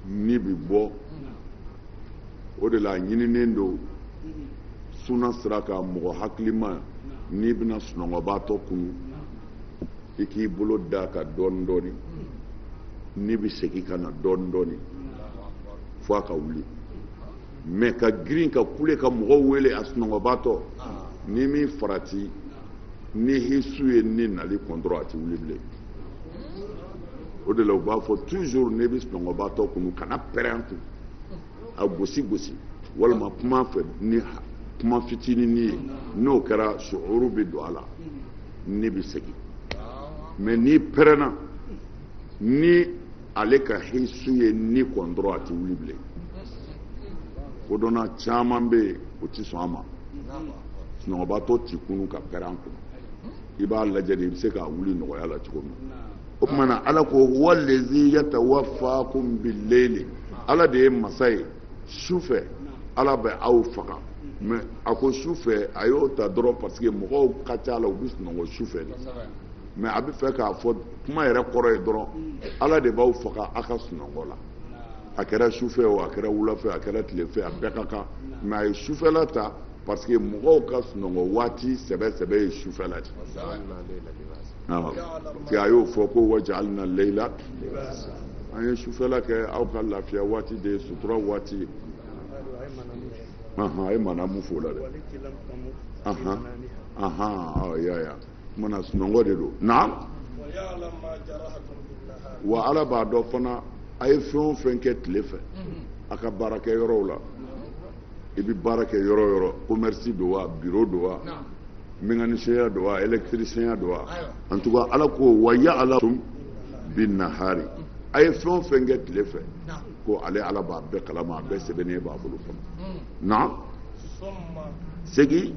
ni bɛ bɔ o de la a ɲininen don suna sira kan mɔgɔ hakilima n'i bɛna sunɔgɔbaatɔ kunu i k'i bolo da a kan dɔɔnin dɔɔnin ni bɛ segin ka na dɔɔnin dɔɔnin fo a ka wuli mɛ ka girin ka kule ka mɔgɔw wele a sunɔgɔbatɔ ah. n'i ma farati ni hisu ye ni nali kun dɔrɔn a ti wuli bilen o de la u b'a fɔ toujours n'i bɛ sunɔgɔbatɔ kunu kana pɛrɛn a kun a gosi gosi walima kuma a fɛ ni kuma fitinin ye n'o kɛra suhuru bɛ don a la ni bɛ segin mɛ n'i pɛrɛnna ni ale ka hisu ye ni kɔn dɔrɔn a tɛ wuli bilen kodɔnna caman bɛ yen o tɛ sɔn a ma sunɔgɔbatɔ t'i kunu ka pɛrɛn a kunna i b'a lajɛ de i bɛ se k'a wuli nɔgɔya la cogo min na o tuma na ala ko wallazi yatawaffakum billeyli ala de ye masa ye su fɛ ala bɛ aw faga mais a ko su fɛ a y'o ta dɔrɔn parce que mɔgɔw ka ca la u bɛ sunɔgɔ su fɛ de mais a bɛ fɛ k'a fɔ kuma yɛrɛ kɔrɔ ye dɔrɔn ala de b'aw faga a ka sunɔgɔ la a kɛra sufɛ o a kɛra wulafɛ a kɛra tilefɛ a bɛɛ ka kan mais a ye sufɛla ta parce que mɔgɔw ka sunɔgɔ waati sɛbɛ sɛbɛ ye sufɛla de parce que a y'o fɔ ko wajalina leyila an ye sufɛla kɛ aw ka lafiya waati de ye sutura waati ye a ye manamu f'o la dɛ ahan ahan ya ya mana sunɔgɔ de don na wa ala b'a dɔn fana a ye fɛn o fɛn kɛ tile fɛ a ka baarakɛ yɔrɔw la i bɛ baara kɛ yɔrɔ o yɔrɔ commerce don wa bureau don wa mécanicien don wa électricien don wa en tout cas ala ko wa yaalamu bi nahari a ye fɛn o fɛn kɛ tile fɛ ko ale ala b'a bɛɛ kalama a bɛɛ sɛbɛnnen b'a bolo fana na segin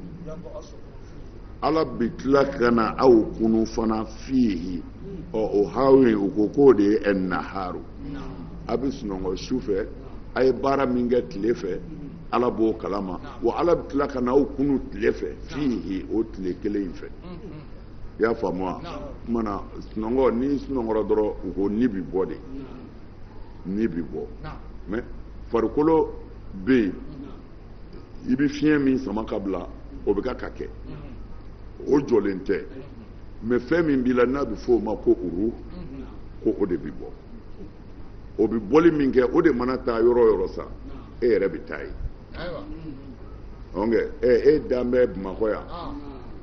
ala bɛ tila ka na aw kunu fana fiyehi ɔ o hawi u ko k'o de ye ɛnaharu a bɛ sunɔgɔ su fɛ a ye baara min kɛ tile fɛ ala b'o kalama wa ala bɛ tila ka na aw kunu tile fɛ fiyehi o tile kelen in fɛ i y'a faamu wa o kuma na sunɔgɔ n'i sunɔgɔra dɔrɔn u ko ni bɛ bɔ de ni bɛ bɔ mais farikolo bɛ yen i bɛ fiɲɛ min sama ka bila o bɛ ka ka kɛ o jɔlen tɛ mais fɛn min b'i la n'a bɛ f'o ma ko uru ko o de bɛ bɔ o bɛ bɔli min kɛ o de mana taa yɔrɔ o yɔrɔ sa e yɛrɛ bɛ taa yen ɔnkɛ ɛ e dan bɛ bamakɔ yan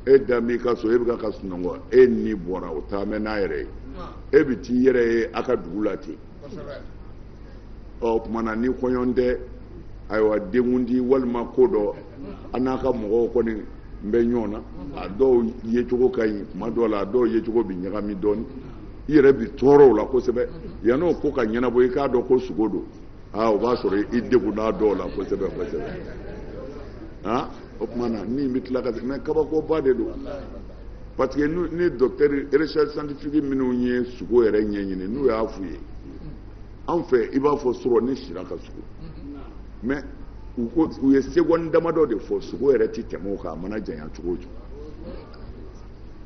e dan b'i ka so e bɛ ka ka sunɔgɔ e ni bɔra o taa mɛ n'a yɛrɛ ye e bɛ t'i yɛrɛ ye a ka dugu la ten o kuma na ni kɔɲɔ tɛ ayiwa denkundi walima ko dɔ an n'a ka mɔgɔw kɔni n bɛ ɲɔgɔn na a dɔw yecogo ka ɲi kuma dɔw la a dɔw yecogo bi ɲagami dɔɔni i yɛrɛ bi tɔɔrɔ o la kosɛbɛ yann'o ko ka ɲɛnabɔ i k'a dɔn ko sugo don aa o b'a sɔrɔ i degunna dɔw la kosɛbɛ kosɛbɛ o tuma na ni bɛ tila ka se mais kabakoba de don parce que ni docteur recherche scientifique minnu ye sugo yɛrɛ ɲɛɲini n'u y'a f'u ye an fɛ i b'a fɔ sɔrɔ n'i sira ka sugo mais u ye seconde damadɔ de fɔ sugo yɛrɛ tɛ tɛmɛ o kan a mana janya cogo o cogo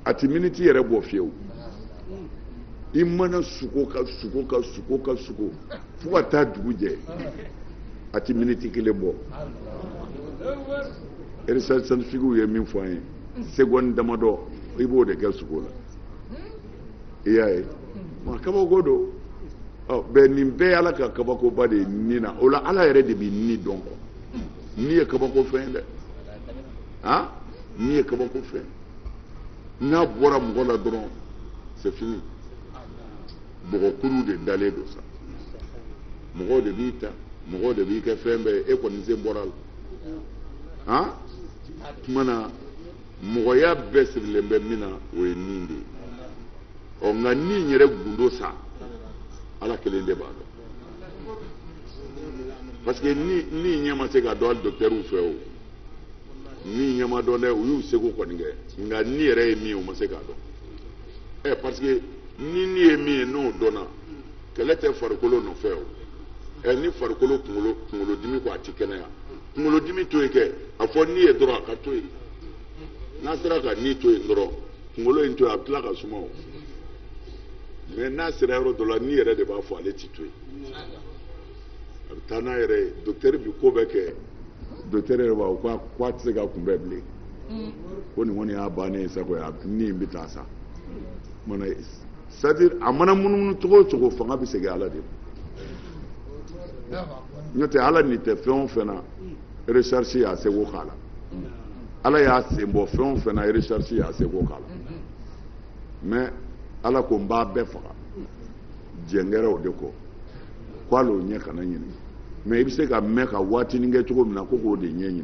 a tɛ miniti yɛrɛ bɔ fiyewu i mana sugo ka sugo ka sugo ka sugo fo ka taa dugu jɛ a tɛ miniti kelen bɔ recherche scientifique ye min fɔ an ye seconde damadɔ i b'o de kɛ sugo la i y'a ye ma kabako don bɛn nin bɛɛ y'ala ka kabakoba de ye ni na o la ala yɛrɛ de bɛ ni dɔn ko ni ye kabako fɛn ye dɛ han ni ye kabako fɛn n'a bɔra mɔgɔ la dɔrɔn c'est fini bɔgɔkuru de dalen don sa mɔgɔw de b'i ta mɔgɔw de b'i kɛ fɛn bɛɛ ye e kɔni sen bɔr'a la han tuma na mɔgɔya bɛɛ sirilen bɛ min na o ye ni de ye ɔ nka ni yɛrɛ gundo sa ala kelen de b'a dɔn parce que ni ni ɲɛ ma se ka dɔn hali docteurw fɛ o ni ɲɛ ma dɔn dɛ u y'u seko kɔni kɛ nka ni yɛrɛ ye min ye u ma se k'a dɔn ɛ parce que ni ni ye min ye n'o dɔnna kɛlɛ tɛ farikolo nɔfɛ o ɛ ni farikolo kunkolo kunkolodimi ko a ti kɛnɛya kunkolodimi to yen kɛ a fɔ ni ye dɔrɔn a ka to yen n'a sera ka ni to yen dɔrɔn kunkolo in to yen a bɛ tila ka suma o mais n'a sera yɔrɔ dɔ la ni yɛrɛ de b'a fɔ ale ti to yen. a bɛ taa n'a yɛrɛ ye docteur bi ko bɛɛ kɛ docteur yɛrɛ b'a fɔ k'a tɛ se ka kunbɛn bilen mm. ko nin kɔni y'a bannen ye sago ye a ni bɛ taa sa mana c'est-à-dire a mana munumunu cogo o cogo fanga bɛ segin ala de ma n'o tɛ ala ni tɛ fɛn o fɛn na recherche y'a seko k'a la ala y'a sen bɔ fɛn o fɛn na recherche y'a seko k'a la mais ala ko n b'a bɛɛ faga jɛngɛrɛw de ko ko hali o ɲɛ kana ɲini mais i bɛ se ka mɛn ka waatinin kɛ cogo min na ko k'o de ɲɛ ɲini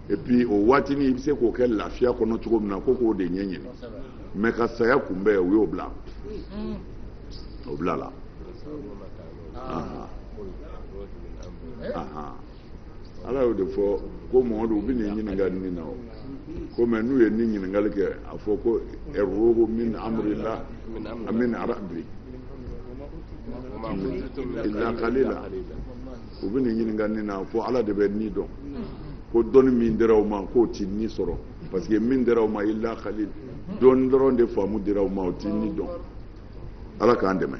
et puis o waatinin i bɛ se k'o kɛ lafiya kɔnɔ cogo min na ko k'o de ɲɛ ɲini mais ka saya kunbɛn u y'o bila o bila la. ala y'o de fɔ ko mamadu u bɛ n'i ɲininka ni na o ko mais n'u ye ni ɲininkali kɛ a fɔ ko arruhu min amrillah amin arabi ila kalila u bɛ n'i ɲininka ni na fɔ ala de bɛ ni dɔn ko dɔnni min dira u ma k'o ti ni sɔrɔ parce que min dira u ma ila kalil dɔɔnin dɔrɔn de faamu dira u ma o ti ni dɔn ala k'an dɛmɛ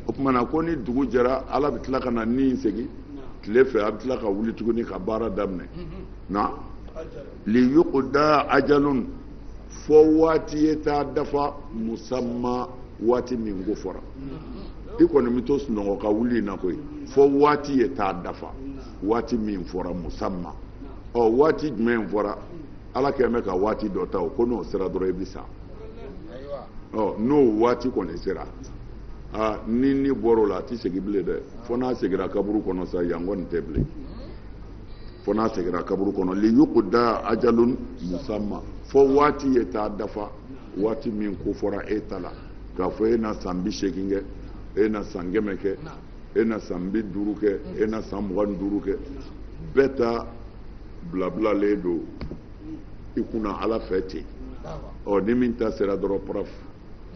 o tuma na ko ni dugu jɛra ala bɛ tila ka na ni in segin tile fɛ a bɛ tila ka wuli tuguni ka baara daminɛ na liyukuda ajalun fo waati ye taa dafa musamma waati min ko fɔra i kɔni bɛ to sunɔgɔ ka wuli in na koyi fo waati ye taa dafa waati min fɔra musamma ɔ waati jumɛn fɔra ala kɛlen bɛ ka waati dɔ ta o ko n'o sera dɔrɔn i bɛ sa ɔ n'o waati kɔni sera aa ni ni bɔra o la a tɛ segin bilen dɛ fo n'a seginna kaburu kɔnɔ sa yan kɔni tɛ bilen fo n'a seginna kaburu kɔnɔ liyukuda ajalun musamma fo waati ye taa dafa waati min ko fɔra e ta la k'a fɔ e na san bi seegin kɛ e na san kɛmɛ kɛ e na san bi duuru kɛ e na san mugan ni duuru kɛ bɛɛ ta bilabilalen don i kunna ala fɛ ten ɔ ni min ta sera dɔrɔn paraf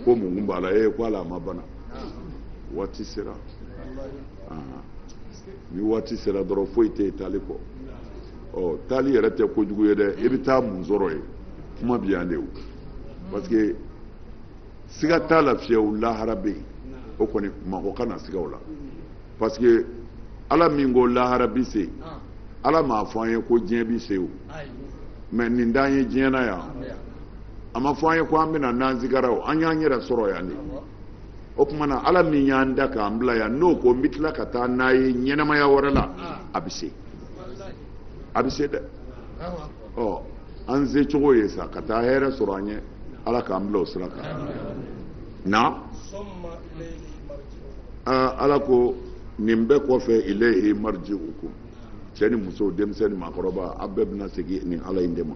ko mun b'a la e ko ala a ma bana waati sera ni waati sera dɔrɔn foyi tɛ yen taali kɔ ɔ taali yɛrɛ tɛ kojugu ye dɛ i bɛ taa mun sɔrɔ yen kuma bi yan de o parce que siga t'a la fiyewu lahara bɛ yen o kɔni mɔgɔ kana siga o la parce que ala min ko lahara bi se yen ala m'a fɔ an ye ko diɲɛ bi se o mais nin t'an ye diɲɛ na yan a ma fɔ an ye ko an bɛ na n'an sigara o an y'an yɛrɛ sɔrɔ yan de o tuma na ala min y'an da k'an bila yan n'o ko n bɛ tila ka taa n'a ye ɲɛnamaya wɛrɛ la a bɛ se a bɛ se dɛ ɔ an se cogo ye sa ka taa hɛrɛ sɔrɔ an ye ala k'an bila o sira kan na ala ko nin bɛɛ kɔfɛ ilayhi marji'ukum cɛ ni muso denmisɛn ni maakɔrɔba a bɛɛ bɛna segin nin ala in de ma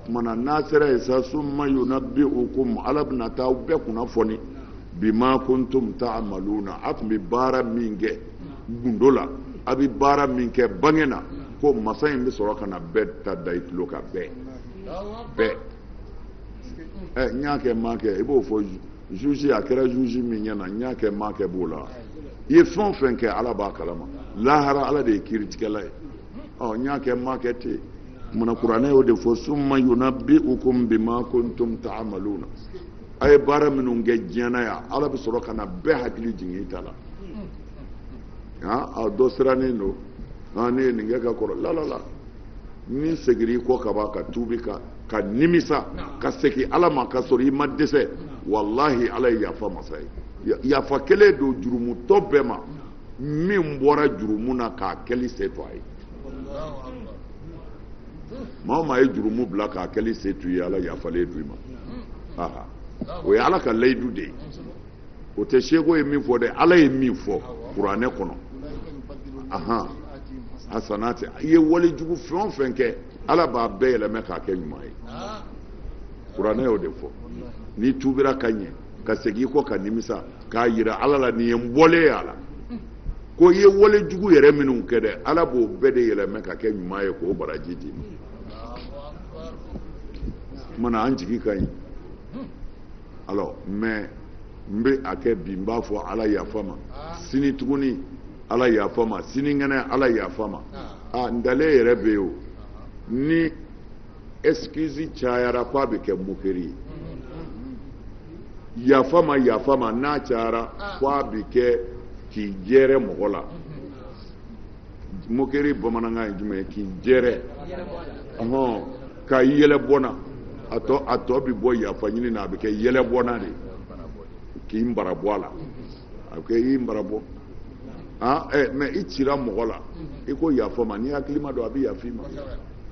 tuma na n'a sera yen sa summa yunabbi'ukum ala bɛna taa bɛɛ kunnafoni bima kuntum ta'maluna a tun bɛ baara min kɛ gundo la a bɛ baara min kɛ bange na ko masa in bɛ sɔrɔ ka na bɛɛ ta da i tulo kan bɛɛ bɛɛ ɛ n y'a kɛ n m'a kɛ i b'o fɔ juge a kɛra juge min ɲɛ na n y'a kɛ n m'a kɛ b'o la i ye fɛn o fɛn kɛ ala b'a kalama lahara ala de ye kiiritigɛla ye ɔ n y'a kɛ n m'a kɛ tɛ mina kuranɛ y'o de fɔ summa yunabbi'ukum bima kuntum ta'maluna a ye baara minnu kɛ diɲɛ na yan ala bɛ sɔrɔ ka na bɛɛ hakili jigin i ta la han a dɔ sirannen don han ne ye nin kɛ ka kɔrɔ lalala n'i segira i kɔ ka ban ka tuubi ka ka nimisa ka segin ala ma ka sɔrɔ i ma dɛsɛ walahi ala ye yafa masa ye yafa kɛlen don jurumutɔ bɛɛ ma min bɔra jurumu na k'a kɛli se to a ye maa o maa ye jurumu bila k'a kɛli se to ye ala yafalen don i ma aha o ye ala ka layidu de ye o tɛ seku ye min fɔ dɛ ala ye min fɔ kuranɛ kɔnɔ ahan hasanati i ye wale jugu fɛn o fɛn kɛ ala b'a bɛɛ yɛlɛmɛ k'a kɛ ɲuman ye kuranɛ y'o de fɔ n'i tuubira ka ɲɛ ka segin kɔ ka nimisa k'a yira ala la nin ye n bɔlen y'a la ko i ye wale jugu yɛrɛ minnu kɛ dɛ ala b'o bɛɛ de yɛlɛmɛ ka kɛ ɲuman ye k'o baraji d'i ma mana an jigi ka ɲi alors mais n bɛ a kɛ bi n b'a fɔ ala yafa ma sini tuguni ala yafa ma sinikɛnɛ ala yafa ma a ntalen yɛrɛ bɛ yen o ni excuse cayara ko a bɛ kɛ moquerie ye yafa ma yafa ma n'a cayara ko a bɛ kɛ k'i jɛrɛ mɔgɔ la moquerie bamanankan ye jumɛn ye k'i jɛrɛ ɔhɔn ka yɛlɛ bɔ n na a tɔ a tɔ bɛ bɔ yafa ɲini na a bɛ kɛ yɛlɛbɔnna de k'i mara bɔ a la a bɛ kɛ i mara bɔ ah, eh, mais i cira mɔgɔ la i ko yafa ma ni hakilima don a bɛ yafa i ma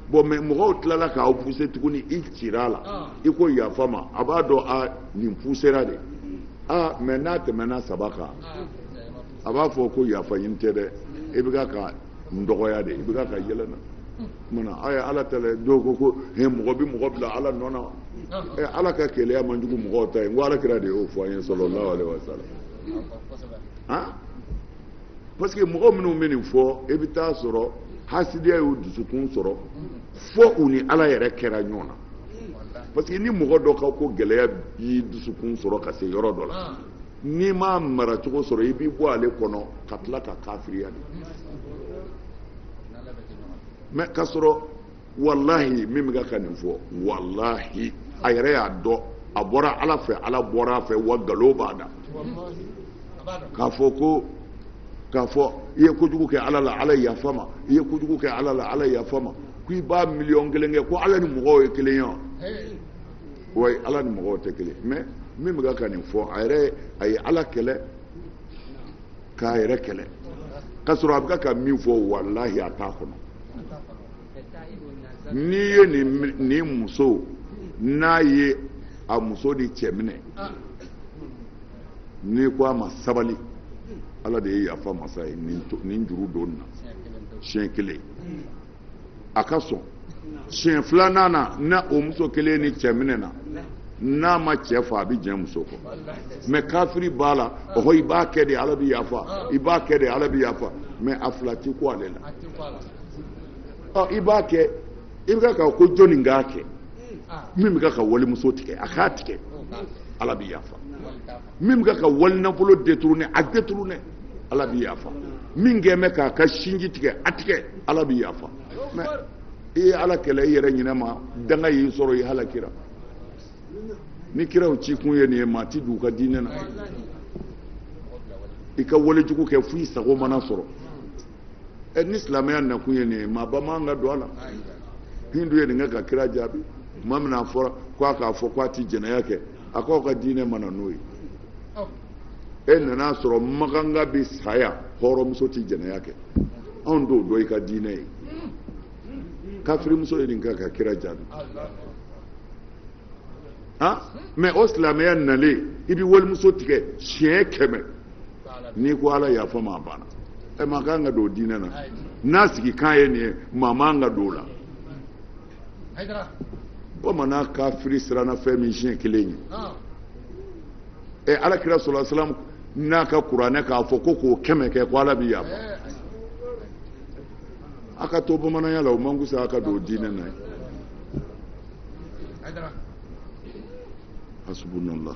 bon mais mɔgɔw tilala k'aw puse tuguni i cira a la ah. i ko yafa ma a b'a dɔn a nin pusera de aa ah, mais n'a tɛmɛna saba kan a b'a fɔ ko yafa ɲini tɛ dɛ i bɛ ka ka n dɔgɔya de i bɛ ka ka yɛlɛ n na mana a ye ala ta la dɔw ko ko he mɔgɔ bɛ mɔgɔ bila ala nɔ na ɛ ala ka keleya man jugu mɔgɔw ta ye n ko ala kira de y'o fɔ an ye sallallahu alaihi wasallam parce que mɔgɔ minnu bɛ nin fɔ i bɛ t'a sɔrɔ hasidiya y'u dusukun sɔrɔ fo u ni ala yɛrɛ kɛra ɲɔgɔn na parce que ni mɔgɔ dɔ ka ko gɛlɛya y'i dusukun sɔrɔ ka se yɔrɔ dɔ la n'i m'a mara cogo sɔrɔ i b'i bɔ ale kɔnɔ ka tila ka kafiriya de mais ka sɔrɔ walahi min bɛ ka nin fɔ walahi a yɛrɛ y'a dɔn a bɔra ala fɛ ala bɔra a fɛ wa nkalon b'a da k'a fɔ ko k'a fɔ i ye kojugu kɛ ala la ala yafa ma i ye kojugu kɛ ala la ala yafa ma ko i b'a miliyɔn kelen kɛ ko ala ni mɔgɔw ye kelen ye wa wa ala ni mɔgɔw tɛ kelen mais min bɛ ka nin fɔ a yɛrɛ a ye ala kɛlɛ k'a yɛrɛ kɛlɛ k'a sɔrɔ a bɛ ka min fɔ walahi a t'a kɔnɔ n'i ye nin muso n'a ye a muso ni cɛ minɛ n'i ko a ma sabali ala de ye yafa masa ye nin juru don n na siɲɛ kelen a ka sɔn siɲɛ filanan na n'o muso kelen ni cɛ minɛna n'a ma cɛ fa a bɛ jɛ muso kɔ mais kafiri b'a la ɔhɔ i b'a kɛ de ala bɛ yafa i b'a kɛ de ala bɛ yafa mais a fila ti ko ale la i b'a kɛ i bɛ ka ko jɔn nin k'a kɛ min bɛ ka walimuso tigɛ a k'a tigɛ ala bɛ yafa min bɛ ka walinafolo détourner a détourner ala bɛ yafa min kɛ bɛ k'a ka sinji tigɛ a tigɛ ala bɛ yafa mais i ye ala kɛlɛ i yɛrɛ ɲinɛ ma danga y'i sɔrɔ i halakira ni kiraw ci kun ye nin ye maa ti don u ka diinɛ na i ka walejugu kɛ fo i sago mana sɔrɔ ɛ ni silamɛya nakun ye nin ye maaba man ka don a la hindu ye nin kɛ ka kira jaabi tuma min na a fɔra ko a k'a fɔ ko a ti jɛnɛya kɛ a k'aw ka diinɛ ma na n'o ye e nana a sɔrɔ maganga bɛ saya hɔrɔnmuso ti jɛnɛya kɛ anw t'o dɔn i ka diinɛ ye kafirimuso ye nin kɛ ka kira jaabi han mais o silamɛya nalen i bɛ walimuso tigɛ siɲɛ kɛmɛ n'i ko ala yafa n ma a banna ɛ maa kan ka don diinɛ na n'a sigikan ye nin ye maa man ka don o la bamanan kafiri siranna fɛn min siɲɛ kelen ye ɛ alakira sallallahu alayhi wa sallam n'a ka kuranɛ k'a fɔ ko k'o kɛmɛ kɛ ko ala bɛ yafa a ka to bamananya la o man kusa a ka don diinɛ na ye hasbunallah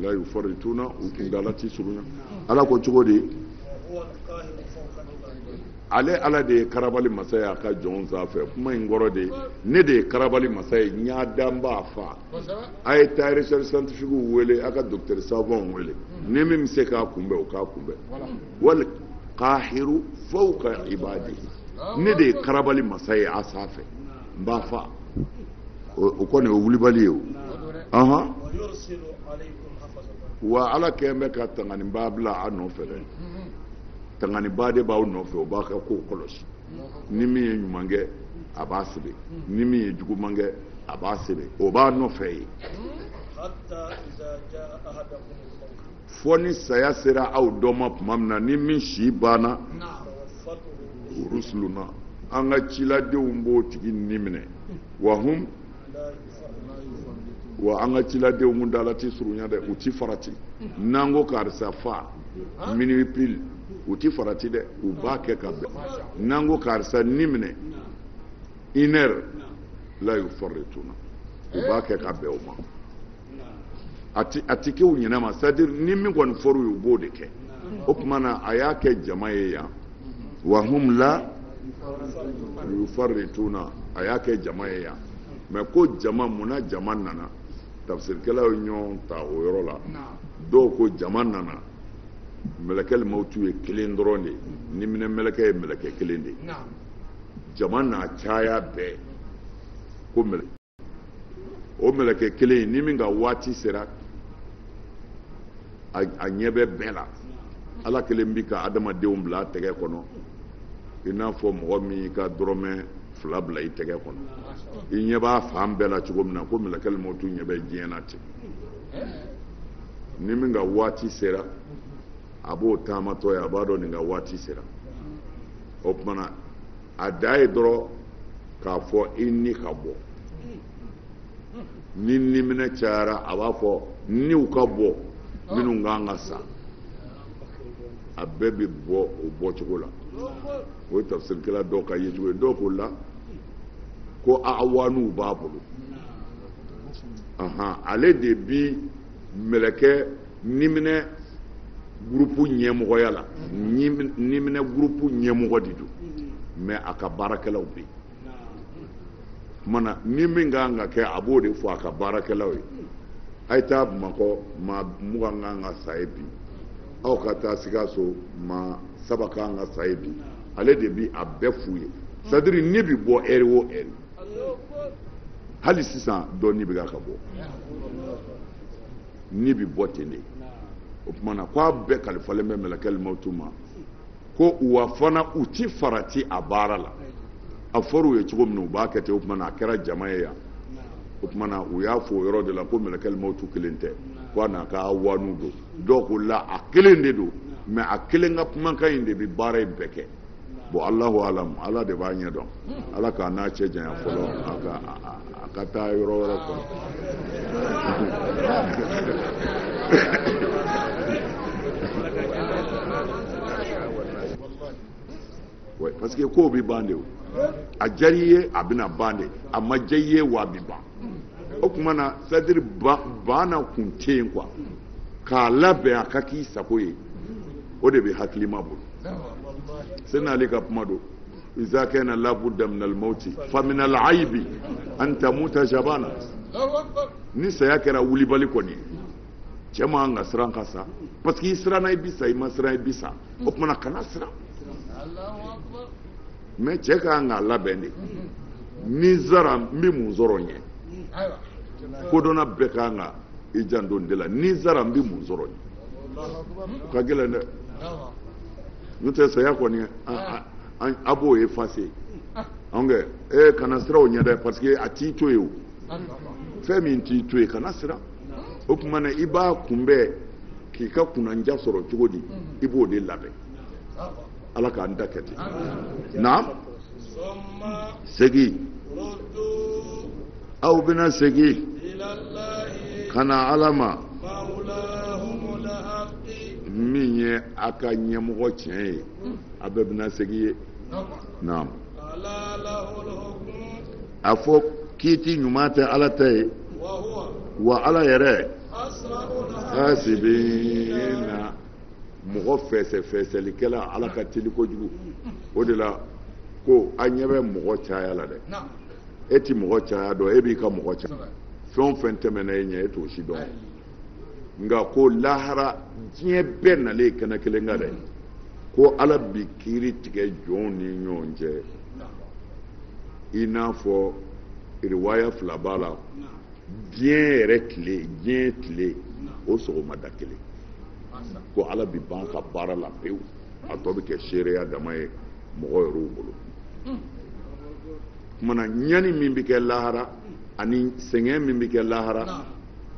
la yufarituna u kundala ti surunya ala ko cogo di ale ala de ye karabali masa ye a ka jɔn sanfɛ kuma in kɔrɔ de ne de ye karabali masa ye n y'a dan n b'a fa a ye taa recherche scientifique wele a ka docteur savant wele ni min bɛ se k'a kunbɛn o k'a kunbɛn wal kahiru fawka ibadihi ne de ye karabali masa ye a sanfɛ n b'a fa o kɔni o wulibali ye o ahan wa ala kɛlen bɛ ka tanganibaa bila a nɔfɛ dɛ tanganibaa de b'aw nɔfɛ o b'a ka kow kɔlɔsi ni min ye ɲuman kɛ a b'a sɛbɛn ni min ye juguman kɛ a b'a sɛbɛn o b'a nɔfɛ ye fɔ ni saya sera aw dɔ ma tuma min na ni min si banna rusuluna an ka ciladenw b'o tigi ni minɛ wa hum wa an ka ciladenw kun dala ti surunya dɛ u ti farati n'an ko karisa fa minuit pile u ti farati dɛ u b'a kɛ ka bɛn n'an ko karisa ni minɛ une heure la yufarituna u b'a kɛ ka bɛn o ma a ti kɛ u ɲɛnama c'est à dire ni min kɔni fɔra u ye u b'o de kɛ o tuma na a y'a kɛ jama ye yan wa hum la yufarituna a y'a kɛ jama ye yan mais ko jama mun na jama nana tafsirikɛlaw ye ɲɔgɔn ta o yɔrɔ la dɔw ko jama nana mɛlɛkɛli mawutu ye kelen dɔrɔn de ye niminɛ mɛlɛkɛ ye mɛlɛkɛ kelen de ye jama n'a caya bɛɛ ko mɛlɛ o mɛlɛkɛ kelen in ni min ka waati sera a ɲɛ bɛ bɛɛ la ala kelen bi ka adamadenw bila a tɛgɛ kɔnɔ i n'a fɔ mɔgɔ min y'i ka dɔrɔmɛ fila bila i tɛgɛ kɔnɔ i ɲɛ b'a fan bɛɛ la cogo min na ko mɛlɛkɛli mawutu ɲɛ bɛ diɲɛ na ten ni min ka waati sera a b'o taamatɔ ye a b'a dɔn nin ka waati sera o tuma na a dan ye dɔrɔn k'a fɔ i ni ka bɔ ni niminɛ cayara a b'a fɔ niw ka bɔ minnu kan ka sa a bɛɛ bɛ bɔ o bɔcogo la o ye tafsirikɛla dɔw ka yecogo ye dɔw ko la ko awanuw b'a bolo ale de bi mɛlɛkɛ niminɛ gurupu ɲɛmɔgɔya la niminɛ gurupu ɲɛmɔgɔ de don mais a ka baarakɛlaw bɛ yen tuma na ni min ka kan ka kɛ a b'o de fɔ a ka baarakɛlaw ye a ye taa bamakɔ maa mugan ka kan ka sa ye bi aw ka taa sikaso maa saba ka kan ka sa ye bi ale de bi a bɛɛ f'u ye c'est à dire ni bi bɔ heure o heure hali sisan dɔ ni bɛ ka bɔ ni bi bɔ ten de o tuma na k'a bɛɛ kalifalen bɛ mɛlɛkɛli mawutu ma ko wa fana u ti farati a baara la a fɔra u ye cogo min na u b'a kɛ ten o tuma na a kɛra jama ye yan o tuma na u y'a fɔ o yɔrɔ de la ko mɛlɛkɛli mawutu kelen tɛ ko a n'a ka awanuw don dɔw ko la a kelen de don mais a kelen ka kumakan in de bɛ baara in bɛɛ kɛ bon alahu alam ala de b'a ɲɛ dɔn ala k'an n'a cɛ janya fɔlɔ a ka a ka taa yɔrɔ wɛrɛ kɔnɔ parce que kow bɛ ban de o a diyara i ye a bɛna ban de a ma diya i ye wa a bɛ ban o tuma na c'est à dire banna kun tɛ yen quoi k'a labɛn a ka k'i sago ye o de bɛ hakilima bolo sena ali ka kuma don iza kana labudda min almauti fa min alaibi an tamuta jabana ni saya kɛra wulibali kɔni cɛ man ka siran ka sa parce que i siranna i bi sa i ma siran i bi sa o tuma na kana siran mais cɛ ka kan k'a labɛn de ni n sara n bɛ mun sɔrɔ n ɲɛ kodɔnna bɛɛ ka kan ka i janto nin de la ni n sara n bɛ mun sɔrɔ n ɲɛ o ka gɛlɛn dɛ n'o tɛ saya kɔni a b'o effacer anw kɛ ee kana siran o ɲɛ dɛ parce que a t'i to yen o fɛn min t'i to yen kana siran o tuma na i b'a kunbɛn k'i ka kunnanja sɔrɔ cogo di i b'o de labɛn ala k'an ta kɛ ten naam segin aw bɛna segin ka na ala ma min ye a ka ɲɛmɔgɔ tiɲɛ ye a bɛɛ bɛna segin yen naam a fɔ kiiti ɲuman tɛ ala ta ye wa ala yɛrɛ hasibina mɔgɔ fɛsɛfɛsɛlikɛla ala ka teli kojugu o de la ko a ɲɛ bɛ mɔgɔ caya la dɛ e ti mɔgɔ caya dɔn e b'i ka mɔgɔ caya fɛn o fɛn tɛmɛna e ɲɛ e t'o si dɔn nka ko lahara diɲɛ bɛɛ nalen kɛnɛ kelen kan dɛ ko ala bi kiiri tigɛ jɔnw ni ɲɔgɔn cɛ i n'a fɔ riwaya fila b'a la diɲɛ yɛrɛ tile diɲɛ tile o sɔgɔmada kelen ko ala bi ban ka baara la pewu a tɔ bɛ kɛ seereya dama ye mɔgɔ yɛrɛw bolo kumana ɲani min bɛ kɛ lahara ani sɛgɛn min bɛ kɛ lahara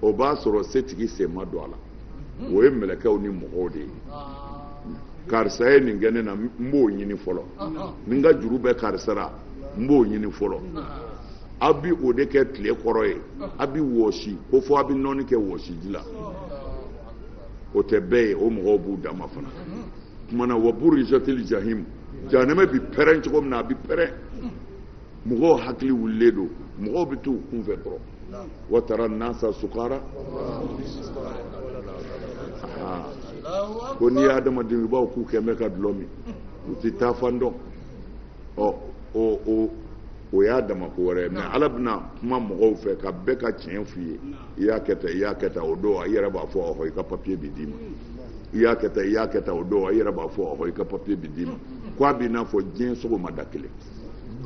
o b'a sɔrɔ setigi sen ma don a la o ye mɛlɛkɛw ni mɔgɔw de ye karisa ye nin kɛ ne na n b'o ɲini fɔlɔ ni n ka juru bɛ karisa la n b'o ɲini fɔlɔ aw bi o de kɛ tile kɔrɔ yen aw bi wɔsi ko fɔ aw bi nɔɔni kɛ wɔsiji la o tɛ bɛɛ ye o mɔgɔw b'u dama fana kumana wa burizatili jahim jahanɛmɛ bi pɛrɛn cogo min na a bi pɛrɛn mɔgɔw hakili wulilen don mɔgɔw bɛ t'u kunfɛ dɔrɔn wa tara nasa sukara ko n'i ye adamaden i b'a fɔ k'u kɛlen bɛ ka dulɔ min u tɛ taa fan dɔn ɔ o o o y'a dama ko wɛrɛ ye mɛ ala bɛna kuma mɔgɔw fɛ ka bɛɛ ka tiɲɛ f'u ye i y'a kɛ tan i y'a kɛ tan o don i yɛrɛ b'a fɔ ɔhɔ i ka papiye bi d'i ma i y'a kɛ tan i y'a kɛ tan o don i yɛrɛ b'a fɔ ɔhɔ i ka papiye bi d'i ma ko a b'i n'a fɔ diɲɛ sɔgɔmada kelen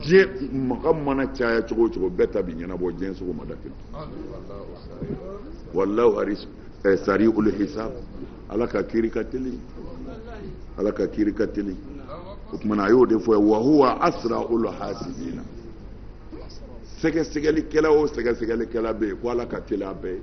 diɲɛ maga mana caya cogo o cogo bɛɛ ta bi ɲɛnabɔ diɲɛ sɔgɔmada kelen walahu ɛ sari'ul hisab ala ka kiri ka teli ala ka kiri ka teli o tumana a y'o de fɔ wa huwa asra'ul hasibina sɛgɛsɛgɛlikɛla o sɛgɛsɛgɛlikɛla bɛ yen ko ala ka teli a bɛɛ ye